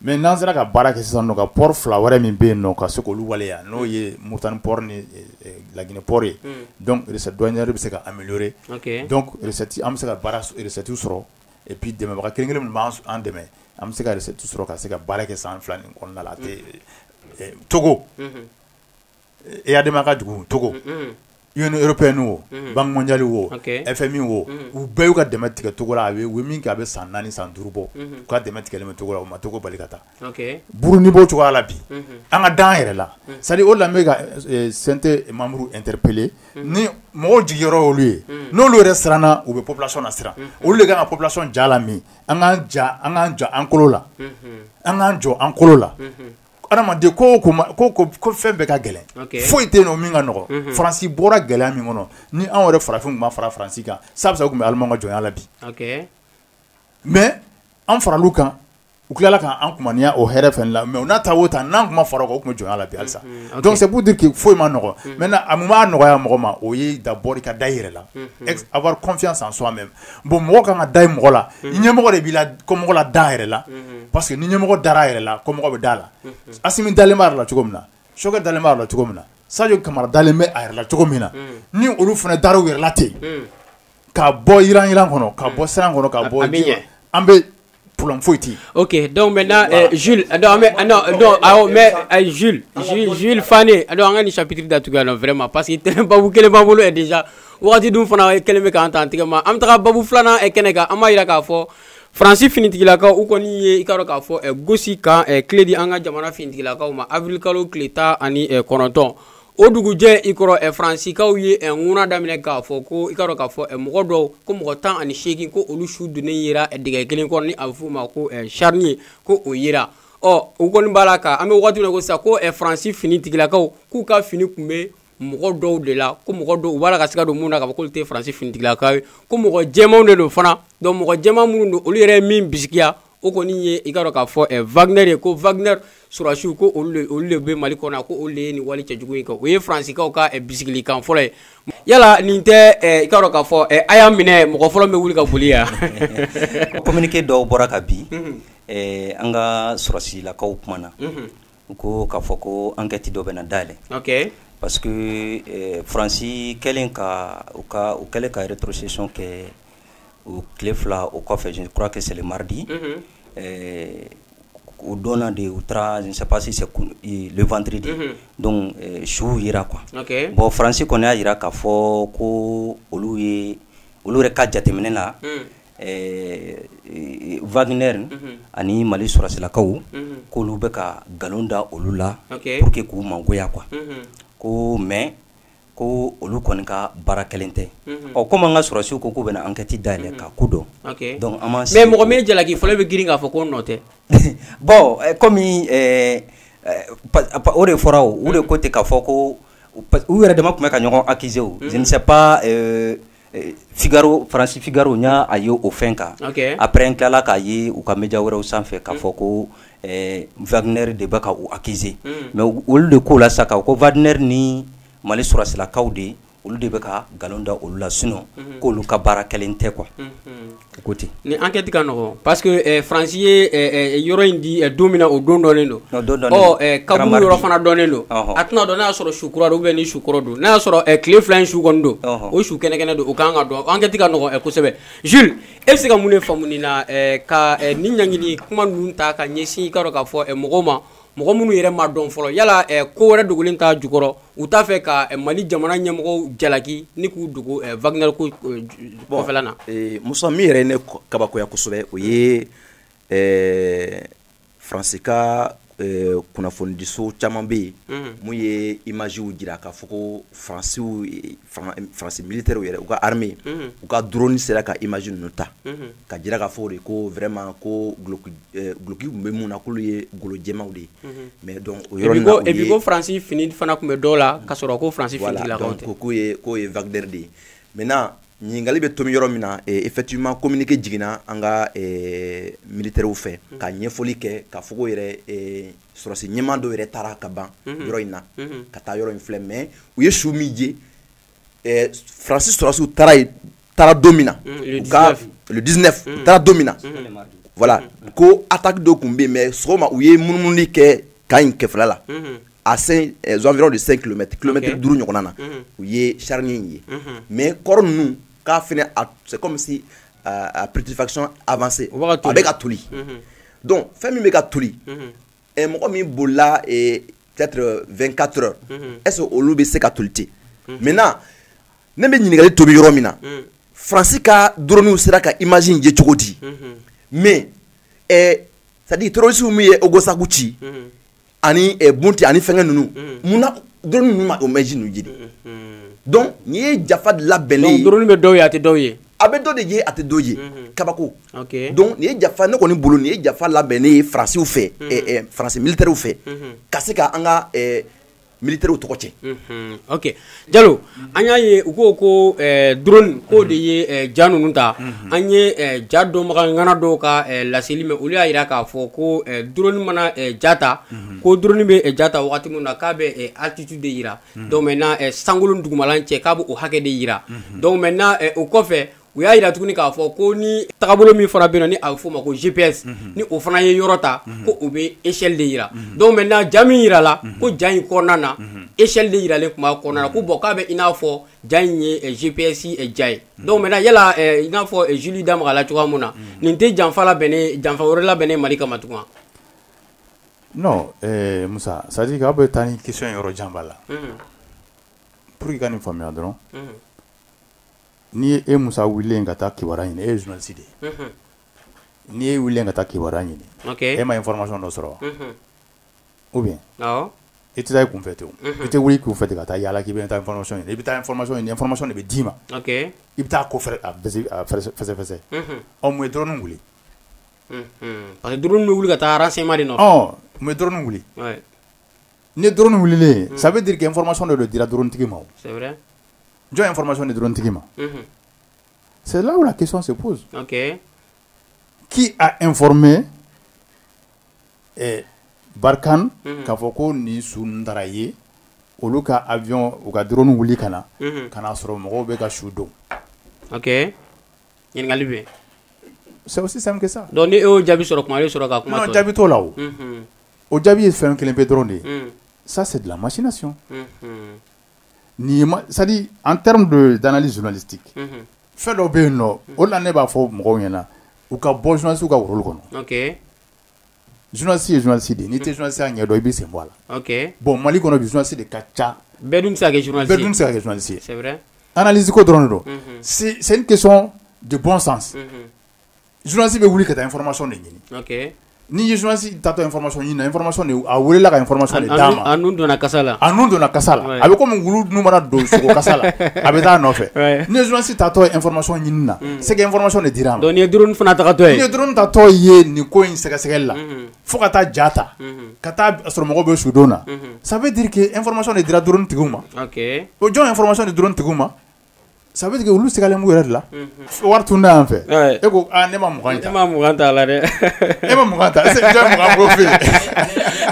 Mɛ n'an sera ka baara kɛ sisan ka pɔri fila wɛrɛ min bɛ yen ka se k'olu waleya n'o ye muritani pɔri ni laginɛ pɔri ye donc recette douanière bɛ se ka améliorer donc an bɛ se ka recette sɔrɔ et puis dɛmɛbaga kelen kelen minnu b'an dɛmɛ an bɛ se ka recette sɔrɔ ka se ka baara kɛ san fila nin kɔnɔna la a tɛ togo e y'a dɛmɛ ka dugu cogo i européenne wo banque mondiale wo FMI wo u bɛɛ y'u ka dɛmɛ tigɛcogo la a min a bɛ san naani san duuru bɔ u ka dɛmɛ tigɛ cogo la u ma cogo bali ka taa burundi bɔ cogoya la bi an ka da an yɛrɛ la sa o la ka sente mamudu n teripele ni mɔgɔw jigi yɔrɔ olu ye n'olu yɛrɛ siranna u bɛ population lasiran olu de ka kan ka population ja la min an ka an ka jɔ an kolo la an k'an jɔ an kolo la adamaden ko ko fɛn bɛɛ ka gɛlɛn foyi tɛ yen o min ka nɔgɔ faransi bɔra gɛlɛya min kɔnɔ ni anw yɛrɛ farafin tun ma fara faransi kan sa tun bɛ ala ka jɔnya la bi mɛ an fara kan u tilala k'an kɔniya o hɛrɛ fɛ la mɛ n'a taa o ta n'an tun ma fara o tun jɔnya la halisa dɔnku de kɛ foyi ma nɔgɔ mɛ a b'a nɔgɔya mɔgɔ ma o ye dabɔ ka da i yɛrɛ la avoir confiance en soi-même bon mɔgɔ ka kan ka da i mɔgɔ la ɲɛmɔgɔ de bɛ kɔmɔgɔ lada a yɛrɛ la parce que ni ɲɛmɔgɔ dara a yɛrɛ la kɔmɔgɔ bɛ da a la assimi dalen b'a yɛrɛ la cogo min na choguel dalen b'a yɛrɛ la cogo min na sadio camara dalen bɛ a yɛrɛ la cogo min na ni olu fana dara u yɛrɛ la ten ka bɔ yiranyiran kɔnɔ ka bɔ siran kɔnɔ ka bɔ an bɛ problème foyi tɛ yen. ok donc maintenant euh, Jules euh, non mais euh, non non awɔ mais euh, Jules Jules Jules Fane donc an ka nin chapitre datugu yan nɔ vraiment parce que tɛnɛ babu kelen b'an bolo yɛrɛ déjà wagati dun fana kɛlen bɛ k'an ta an tɛgɛ ma an bɛ taga babu filanan kɛnɛ kan an b'a jira k'a fɔ. faransi finitigilakaw u kɔni ye i k'a dɔn k'a fɔ gosi camp clé di an ka jamana finitigilakaw ma avril kalo tile tan ani kɔnɔntɔn o dugujɛ ikɔrɔ ɛ faransikaw ye ɛ ŋuna daminɛ k'a fɔ ko i k'a dɔn k'a fɔ ɛ mɔgɔ dɔw ko mɔgɔ tan ani seegin ko olu su donnen yera dingɛ kelen kɔnɔ ni a bɛ f'o ma ko ɛ charnier ko o yera ɔ u kɔni b'a la ka an bɛ wagati min na ko sisan ko ɛ faransi finitigilakaw k'u ka fini tun bɛ mɔgɔ dɔw de la ko mɔgɔ dɔw u b'a la ka siga don mun na k'a fɔ k'olu tɛ faransi finitigilakaw ye ko mɔgɔ jɛmanw de don fana donc mɔgɔ jɛman minnu don olu yɛrɛ ye min bisigiya o kɔni ye i k'a dɔn k'a fɔ eh, wagner ye ko wagner sɔrasiw ko olu de bɛ mali kɔnɔ ko olu de ye nin wale cɛjugu in kɛ o ye faransikaw ka eh, bisigilikan fɔlɔ ye yala nin tɛ eh, i k'a dɔn k'a fɔ a y'a minɛ mɔgɔ fɔlɔ bɛ wuli ka boli yan communiqué dɔw bɔra kabi mhm. an ka sɔrasilakaw kumana mhm. U ko k'a fɔ ko enquête dɔw bɛna dayɛlɛ parce que faransi kɛlen ka u kɛlen ka rétrocession kɛ o tile fila o kɔfɛ je crois que c'est le mardi o don de u taara je ne sais pas si c'est le vendredi donc suw jira quoi bon faransi kɔni y'a jira k'a fɔ ko olu ye olu yɛrɛ ka jateminɛ na wagner ani mali sɔrɔsilakaw k'olu bɛ ka nkalon da olu la pour que k'u mangoya quoi ko mais ko olu kɔni ka baara kɛlen tɛ ɔ kɔmi an ka sɔrɔsiw ko k'u bɛna ankɛti dayɛlɛ ka ko dɔn an ma se mɔgɔ min jalaki fɔlɔ bɛ grin k'a fɔ ko nɔ tɛ bɔn kɔmi o de fɔra o de ko ten k'a fɔ ko u yɛrɛ dama tun bɛ ka ɲɔgɔn accuser je sais pas Figaro France Figaro n y'a a ye o fɛn kan, ok, après n tilala k'a ye u ka media wɛrɛw sanfɛ k'a fɔ ko ɛɛ Wagner de bɛ ka u accuser unhun, mais olu de k'o la sa k'a fɔ ko Wagner ni Mali sɔrɔsilakaw de olu de bɛ ka nkalon da olu la sinon k'olu ka baara kɛlen tɛ quoi ko ten nin enquête ka nɔgɔn parce que ɛɛ France ye ɛɛ yɔrɔ in di don min na o don dɔnnen don, o don dɔnnen don, ɔ ɛɛ kaburu yɔrɔ fana dɔnnen don, ɔhɔ, a tɛna dɔn n'a y'a sɔrɔ su kura don ou bien ni su kɔrɔ don, n'a y'a sɔrɔ ɛɛ tile fila in su kɔni don, ɔhɔ, o su kɛnɛkɛnɛ don o ka kan ka dɔn enquête ka nɔgɔn kosɛbɛ Jules e bɛ se ka mun de faamu nin na ɛɛ ka nin ɲangili kuma ninnu ta ka ɲɛsin i k'a dɔn k'a fɔ mɔgɔw ma mɔgɔ minnu yɛrɛ ma dɔn fɔlɔ yala eh, ko wɛrɛ dogolen t'a jukɔrɔ u t'a fɛ ka eh, mali jamana ɲɛmɔgɔw jalaki ni k'u dogo eh, wagner kɔfɛla na musa min yɛrɛ ye ne kabakoya kosɛbɛ o ye faransi ka kunnafonidiso caman bɛ yen mun ye imaziw jira k'a fɔ ko faransiw faransi militɛr yɛrɛ u ka armée u ka droni sera ka imazi ninnu ta k'a jira k'a fɔ de ko vraiment ko duloki tun bɛ mun na k'olu ye golojɛmaw de ye mais dɔn o yɔrɔ ko faransi fini fana tun bɛ dɔw la ka sɔrɔ ko faransi k'o ye k'o ye wagner de ye maintenant ɲininkali bɛ tomi yɔrɔ min na effectivement kominike jiginna an ka militɛrw fɛ ka ɲɛfɔli kɛ k'a fɔ yɛrɛ sɔrɔsi ɲɛmaa dɔw yɛrɛ taara kaban mhm. yɔrɔ in na mhm. ka taa yɔrɔ in filɛ mais u ye su min je eh, faransi sɔrɔsiw taara ye taara don min na mhm, u ka le 19 u taara don min na voilà ko attaque dɔ tun bɛ yen mais sɔgɔma u ye munumununi kɛ kan in kɛfɛla la à 5 eh, environ de 5 km kilomɛtiri duuru ɲɔgɔnna na u ye charnier in ye mais corps ninnu ka fɛnɛ c'est comme si a putréfaction avancée o bɛ ka toli mhm. donc fɛn min bɛ ka toli mhm. eh, mɔgɔ min bolila eh, peut-être 24 heures mhm. est-ce que olu bɛ se ka toli ten maintenant ne bɛ ɲininkali tomi yɔrɔ min na faransi ka droniw sera ka image in ye cogo di mais eh, c'est-à-dire terroristes min ye ogosagu ci ani eh, bunti ani fɛngɛ ninnu mm. mun na drone ninnu ma o imazi ninnu je de donc nin ye janfa labɛnnen ye drone bɛ dɔw ye a tɛ dɔw ye a bɛ dɔ de ye a tɛ dɔ ye kabako donc nin ye janfa ne kɔni bolo nin ye janfa labɛnnen ye faransiw fɛ eh, eh, faransi militɛriw fɛ ka se ka an ka militɛriw tɔgɔ tiɲɛ ok Jalo an y'a ye u ko ko drone ko de ye ja ninnu ta an ye ja dɔnbaga ŋana dɔw ka laseli mɛn olu y'a jira k'a fɔ ko drone mana ja ta ko drone bɛ ja ta waati min na k'a bɛ altitude de jira donc maintenant sankolo ni dugumalan cɛ k'a bɛ o hakɛ de jira donc maintenant o kɔfɛ u y'a jira tuguni k'a fɔ ko ni tagabolo min fana bɛ ni a bɛ f'o ma ko gps mhm. ni o fana ye yɔrɔ ta mhm. ko o bɛ échelle de jira mhm. donc maintenant ja min jira la ko ja in kɔnɔna na échelle de jiralen tun b'a kɔnɔna na ko bon k'a bɛ i n'a fɔ ja in ye eh, gps eh, ja ye donc maintenant yala eh, i n'a fɔ juli da maga la cogoya min na nin tɛ janfa labɛnnen janfa wɛrɛ labɛnnen mali kama tugun non eh, musa c'est à dire k'a bɛ taa ni question yɔrɔ janba la pour que ka nin faamuya dɔrɔn N'i ye e musa wele ka taa kiba ɲini e ye zsi de ye n'i ye weele ka taa kiba ɲini e ma ye fmasɔn dɔ sɔrɔ o bɛ e tɛ e kun fɛ ten e tɛ wuli k'u fɛ ka taa yala k'i bɛ taa fsɔn i bɛ taa fsɔnsɔn de bɛ d'i ma i bɛ taa ko fɛsɛ ɔ ye dɔrɔnin wuli ani du bɛ wuli ka taa sema de nɔn n bɛ dɔrɔnin wuli ni dɔrɔnin wililen sabu deli kɛ fmasɔn de don dira duuruntigi ma jɔn ye information di drone tigi ma c'est là où la question se pose okay. qui a informé eh, Barkhane mhm. k'a fɔ ko nin su ninnu taara yen olu ka avion u ka drone wuli ka na mhm. ka n'a sɔrɔ mɔgɔw bɛ ka su don ok ɲininkali bɛ c'est aussi simple que ça donc ni e y'o jaabi sɔrɔ kuma e sɔrɔ ka kuma tɔ non jaabi t'o la o mhm. o jaabi ye fɛn kelen pe dɔrɔn de ye ça c'est de la machination nin ma c'est à dire en terme de d'analyse journalistique unhun, fɛn dɔ bɛ yen nɔ o de la ne b'a fɔ mɔgɔw ɲɛna u ka bɔ journaliste ka role kɔnɔ ok journaliste ye journaliste de ye n'i tɛ journaliste ya ɲɛdɔn i bɛ sen bɔ a la ok bon Mali kɔnɔ bi journaliste de ka ca bɛɛ dun bɛ se ka kɛ journaliste bɛɛ ye dun bɛ se ka kɛ journaliste ye c'est vrai analyse ko dɔrɔn de don unhun, c'est c'est une question de bon sens unhun, zsi bɛ wuli ka taa fma de ɲini ni ye zsi ta tɔma ɲini a welela ka fma donna kasala donna kasala a bɛ kɔmi wulu dun mana don kala a bɛ taa nɔfɛ ni zsi ta tɔ efma ɲini na sɛgɛ fma de dira dɔn ye du fana tatɔ ye du ta tɔ ye nin ko in sɛgɛsɛgɛli la fo ka taa ja ta ka taa sɔrɔ mɔgɔw bɛ sudon na sabu dike efma de dira duuruuru tigi ma o jɔn efma de duuruuru tigi ma Ça veut dire que olu sigilen yɛrɛ la wari tun da yan fɛ e ko ne ma e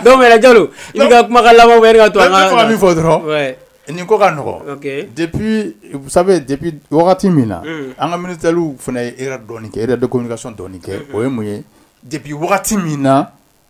e dɛ jalo i ka kuma laban to min fɔ dɔrɔn nin ko ka nɔgɔ depuis vous savez depuis wagati min na an ka militairew fana e dɔn kɛ e de communication dɔɔni kɛ o ye mun ye depuis wagati min na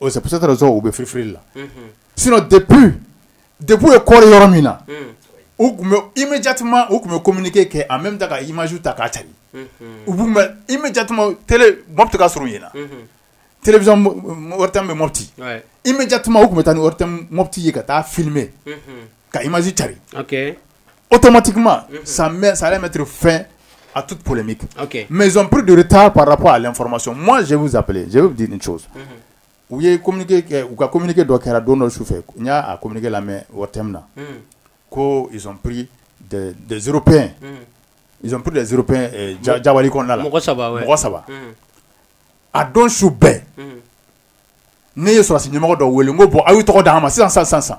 O c'est peut-être raison u bɛ firifiri la, unhun, sinon depuis depuis u y'u koori yɔrɔ min na, unhun, u tun bɛ immédiatement u tun bɛ communiqué kɛ en même temps ka imagew ta k'a carin, unhun, u tun bɛ immédiatement télé Mopti ka surun yen na, unhun, télévision ORTM bɛ Mopti, ouais, immédiatement u tun bɛ taa ni ORTM Mopti ye ka taa filmer unhun, ka imagew carin, ok automatiquement ça va mettre fin à tout polémique mɛpri de taa para information sɛbupzp di ni cogo u ye u ka communiqué dɔ kɛra don dɔ su fɛ n y'a communiqué lamɛn o tɛmɛnen kɔ après deux jours après deux jours ja ja kɔnɔna la mɔgɔ saba mɔgɔ saba a don su bɛɛ ne ye sɔrɔdasi ɲɛmɔgɔ dɔ wele ko bon a ye tɔgɔ di an ma sisan san san san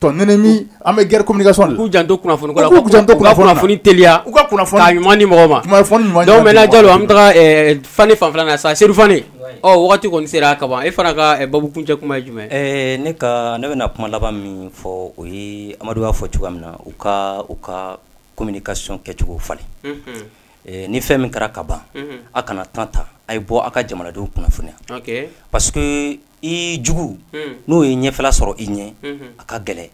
Tɔ ɲinini an bɛ guerre communication de la, u k'u janto kunnafoni ko la, u k'u janto kunnafoni na, u ka kunnafoni teliya, u ka kunnafoni, k'a ɲuman di mɔgɔw ma, kunnafoni ɲuman donc maintenant Jalo an bɛ taga ɛɛ Fane fanfɛla la sisan Sedu Fane, wayi, ɔ wagati kɔni sera ka ban e fana ka baabu kuncɛ kuma ye jumɛn ye? Ɛɛ ne ka ne bɛna kuma laban min fɔ o ye Amadu y'a fɔ cogoya min na u ka u ka communication kɛcogo falen, unhun, ɛ ni fɛn min kɛra ka ban, unhun, a kana temps ta a ye bɔ a ka jamanadenw kunnafoniya, ok, parce que i jugu n'u ye ɲɛfɛla sɔrɔ i ɲɛ a ka gɛlɛn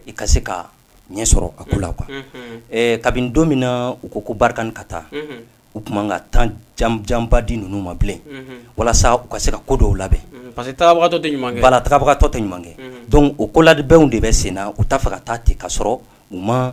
i ka se ka ɲɛ sɔrɔ a ko la quoi kabini don min na u ko ko Barkhane ka taa u tun man kan ka temps janba di ninnu ma bilen walasa u ka se ka ko dɔw labɛn parce que taabagatɔ tɛ ɲuman kɛ donc o kolabɛnw de bɛ sen na u t'a fɛ ka taa ten ka sɔrɔ u ma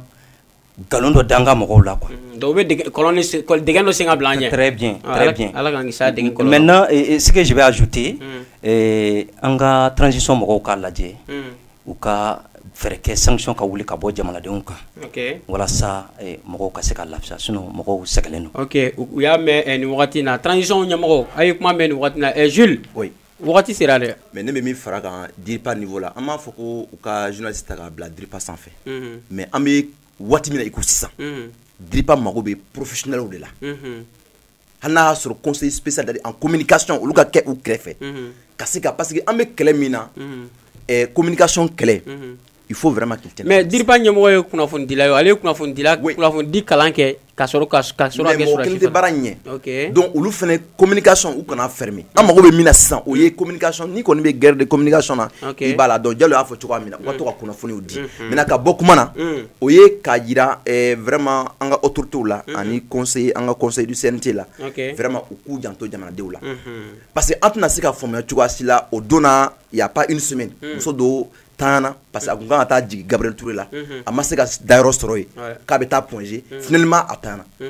nkalon dɔ da an ka mɔgɔw la quoi mm, donc u bɛ dingɛ dɔ sen ka bila an ɲɛ très bien ah, très bien Ala k'an kisi a dingɛ kɔlɔlɔ maintenant ce que je vais ajouter mm. eh, an ka transition mɔgɔw k'a lajɛ mm. u ka fɛɛrɛ kɛ sanction ka wuli ka bɔ jamanadenw kan okay. walasa eh, mɔgɔw ka se ka lafiya sinon mɔgɔw sɛgɛnnen don ok u y'a mɛn eh, nin wagati in na transition ɲɛmɔgɔ a ye kuma mɛn nin wagati in na eh, Jules oui. wagati sera dɛ mais ne bɛ min fara a kan DIRPA niveau la an b'a fɔ ko u ka journaliste ta k'a bila DIRPA sanfɛ mhm. mais an bɛ waati min na i ko sisan mhm. DIRPA mago bɛ professionnels de la mhm. hali n'a y'a sɔrɔ conseil spécial dédié en communication olu ka kɛ u kɛrɛfɛ ka se ka parce que an bɛ kɛlɛ min na communication kɛlɛ il faut vraiment qu'il tienne mais DIRPA ɲɛmɔgɔ ye kunnafonidila ye o, ale ye kunnafonidila kunnafonidi kalan kɛ ka sɔrɔ ka s ka sɔrɔ ka kɛ sɔrɔdasi fana ye mais mɔgɔ kelen tɛ baara in ɲɛ ok donc olu fana communication u kana fermer an mago bɛ min na sisan o ye communication n'i kɔni bɛ guerre de communication na ok i b'a la donc Jalo y'a fɔ cogoya min na u ka to ka kunnafoniw di maintenant ka bɔ kuma na o ye k'a jira ɛɛ vraiment an ka autorités la ani conseil an ka conseil du CNT la ok vraiment u k'u janto jamanadenw la parce que an tɛna se k'a faamuya cogoya si la o don na il y a pas une semaine muso dɔ tan na parce que a tun kan ka taa jigin Gabriel Toure la a ma se ka dayɔrɔ sɔrɔ yen k'a bɛ taa Point G finalement a tan na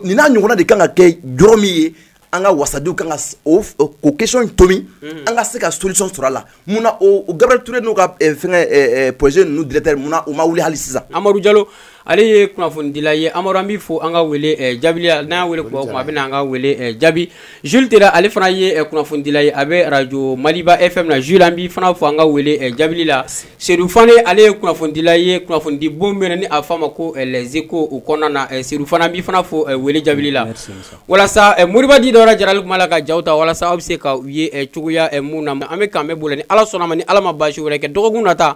nin n'a ɲɔgɔnna de kan ka kɛ jɔrɔ min ye an ka wasadenw kan ka o o question in tomi an ka se ka solution sɔrɔ a la mun na o Gabriel Toure n'o ka fɛngɛ projet ninnu directeur mun na u ma wuli hali sisan Amadu Jalo ale ye kunnafonidila ye amadu an b'i fo an ka wele eh, jaabi la n'a wele kuma kuma a bɛ an ka wele eh, jaabi juli tɛ ale fana ye eh, kunnafonidila ye a bɛ arajo maliba FM na juli an b'i fana fo an ka wele jaabi la serifana ale ye kunnafonidila ye kunnafonidi bon bɛ ni a fa ma ko zeko o kɔnɔna na serifana an b'i fana fo wele jaabi la walasa moribadi dɔw jarali kuma la ka ja ta walasa aw bɛ se ka u ye cogoya ɲuman na an bɛ kan bɛ bolo ni ala sɔnna a ma ni ala ma baasi wɛrɛ kɛ dɔgɔkun na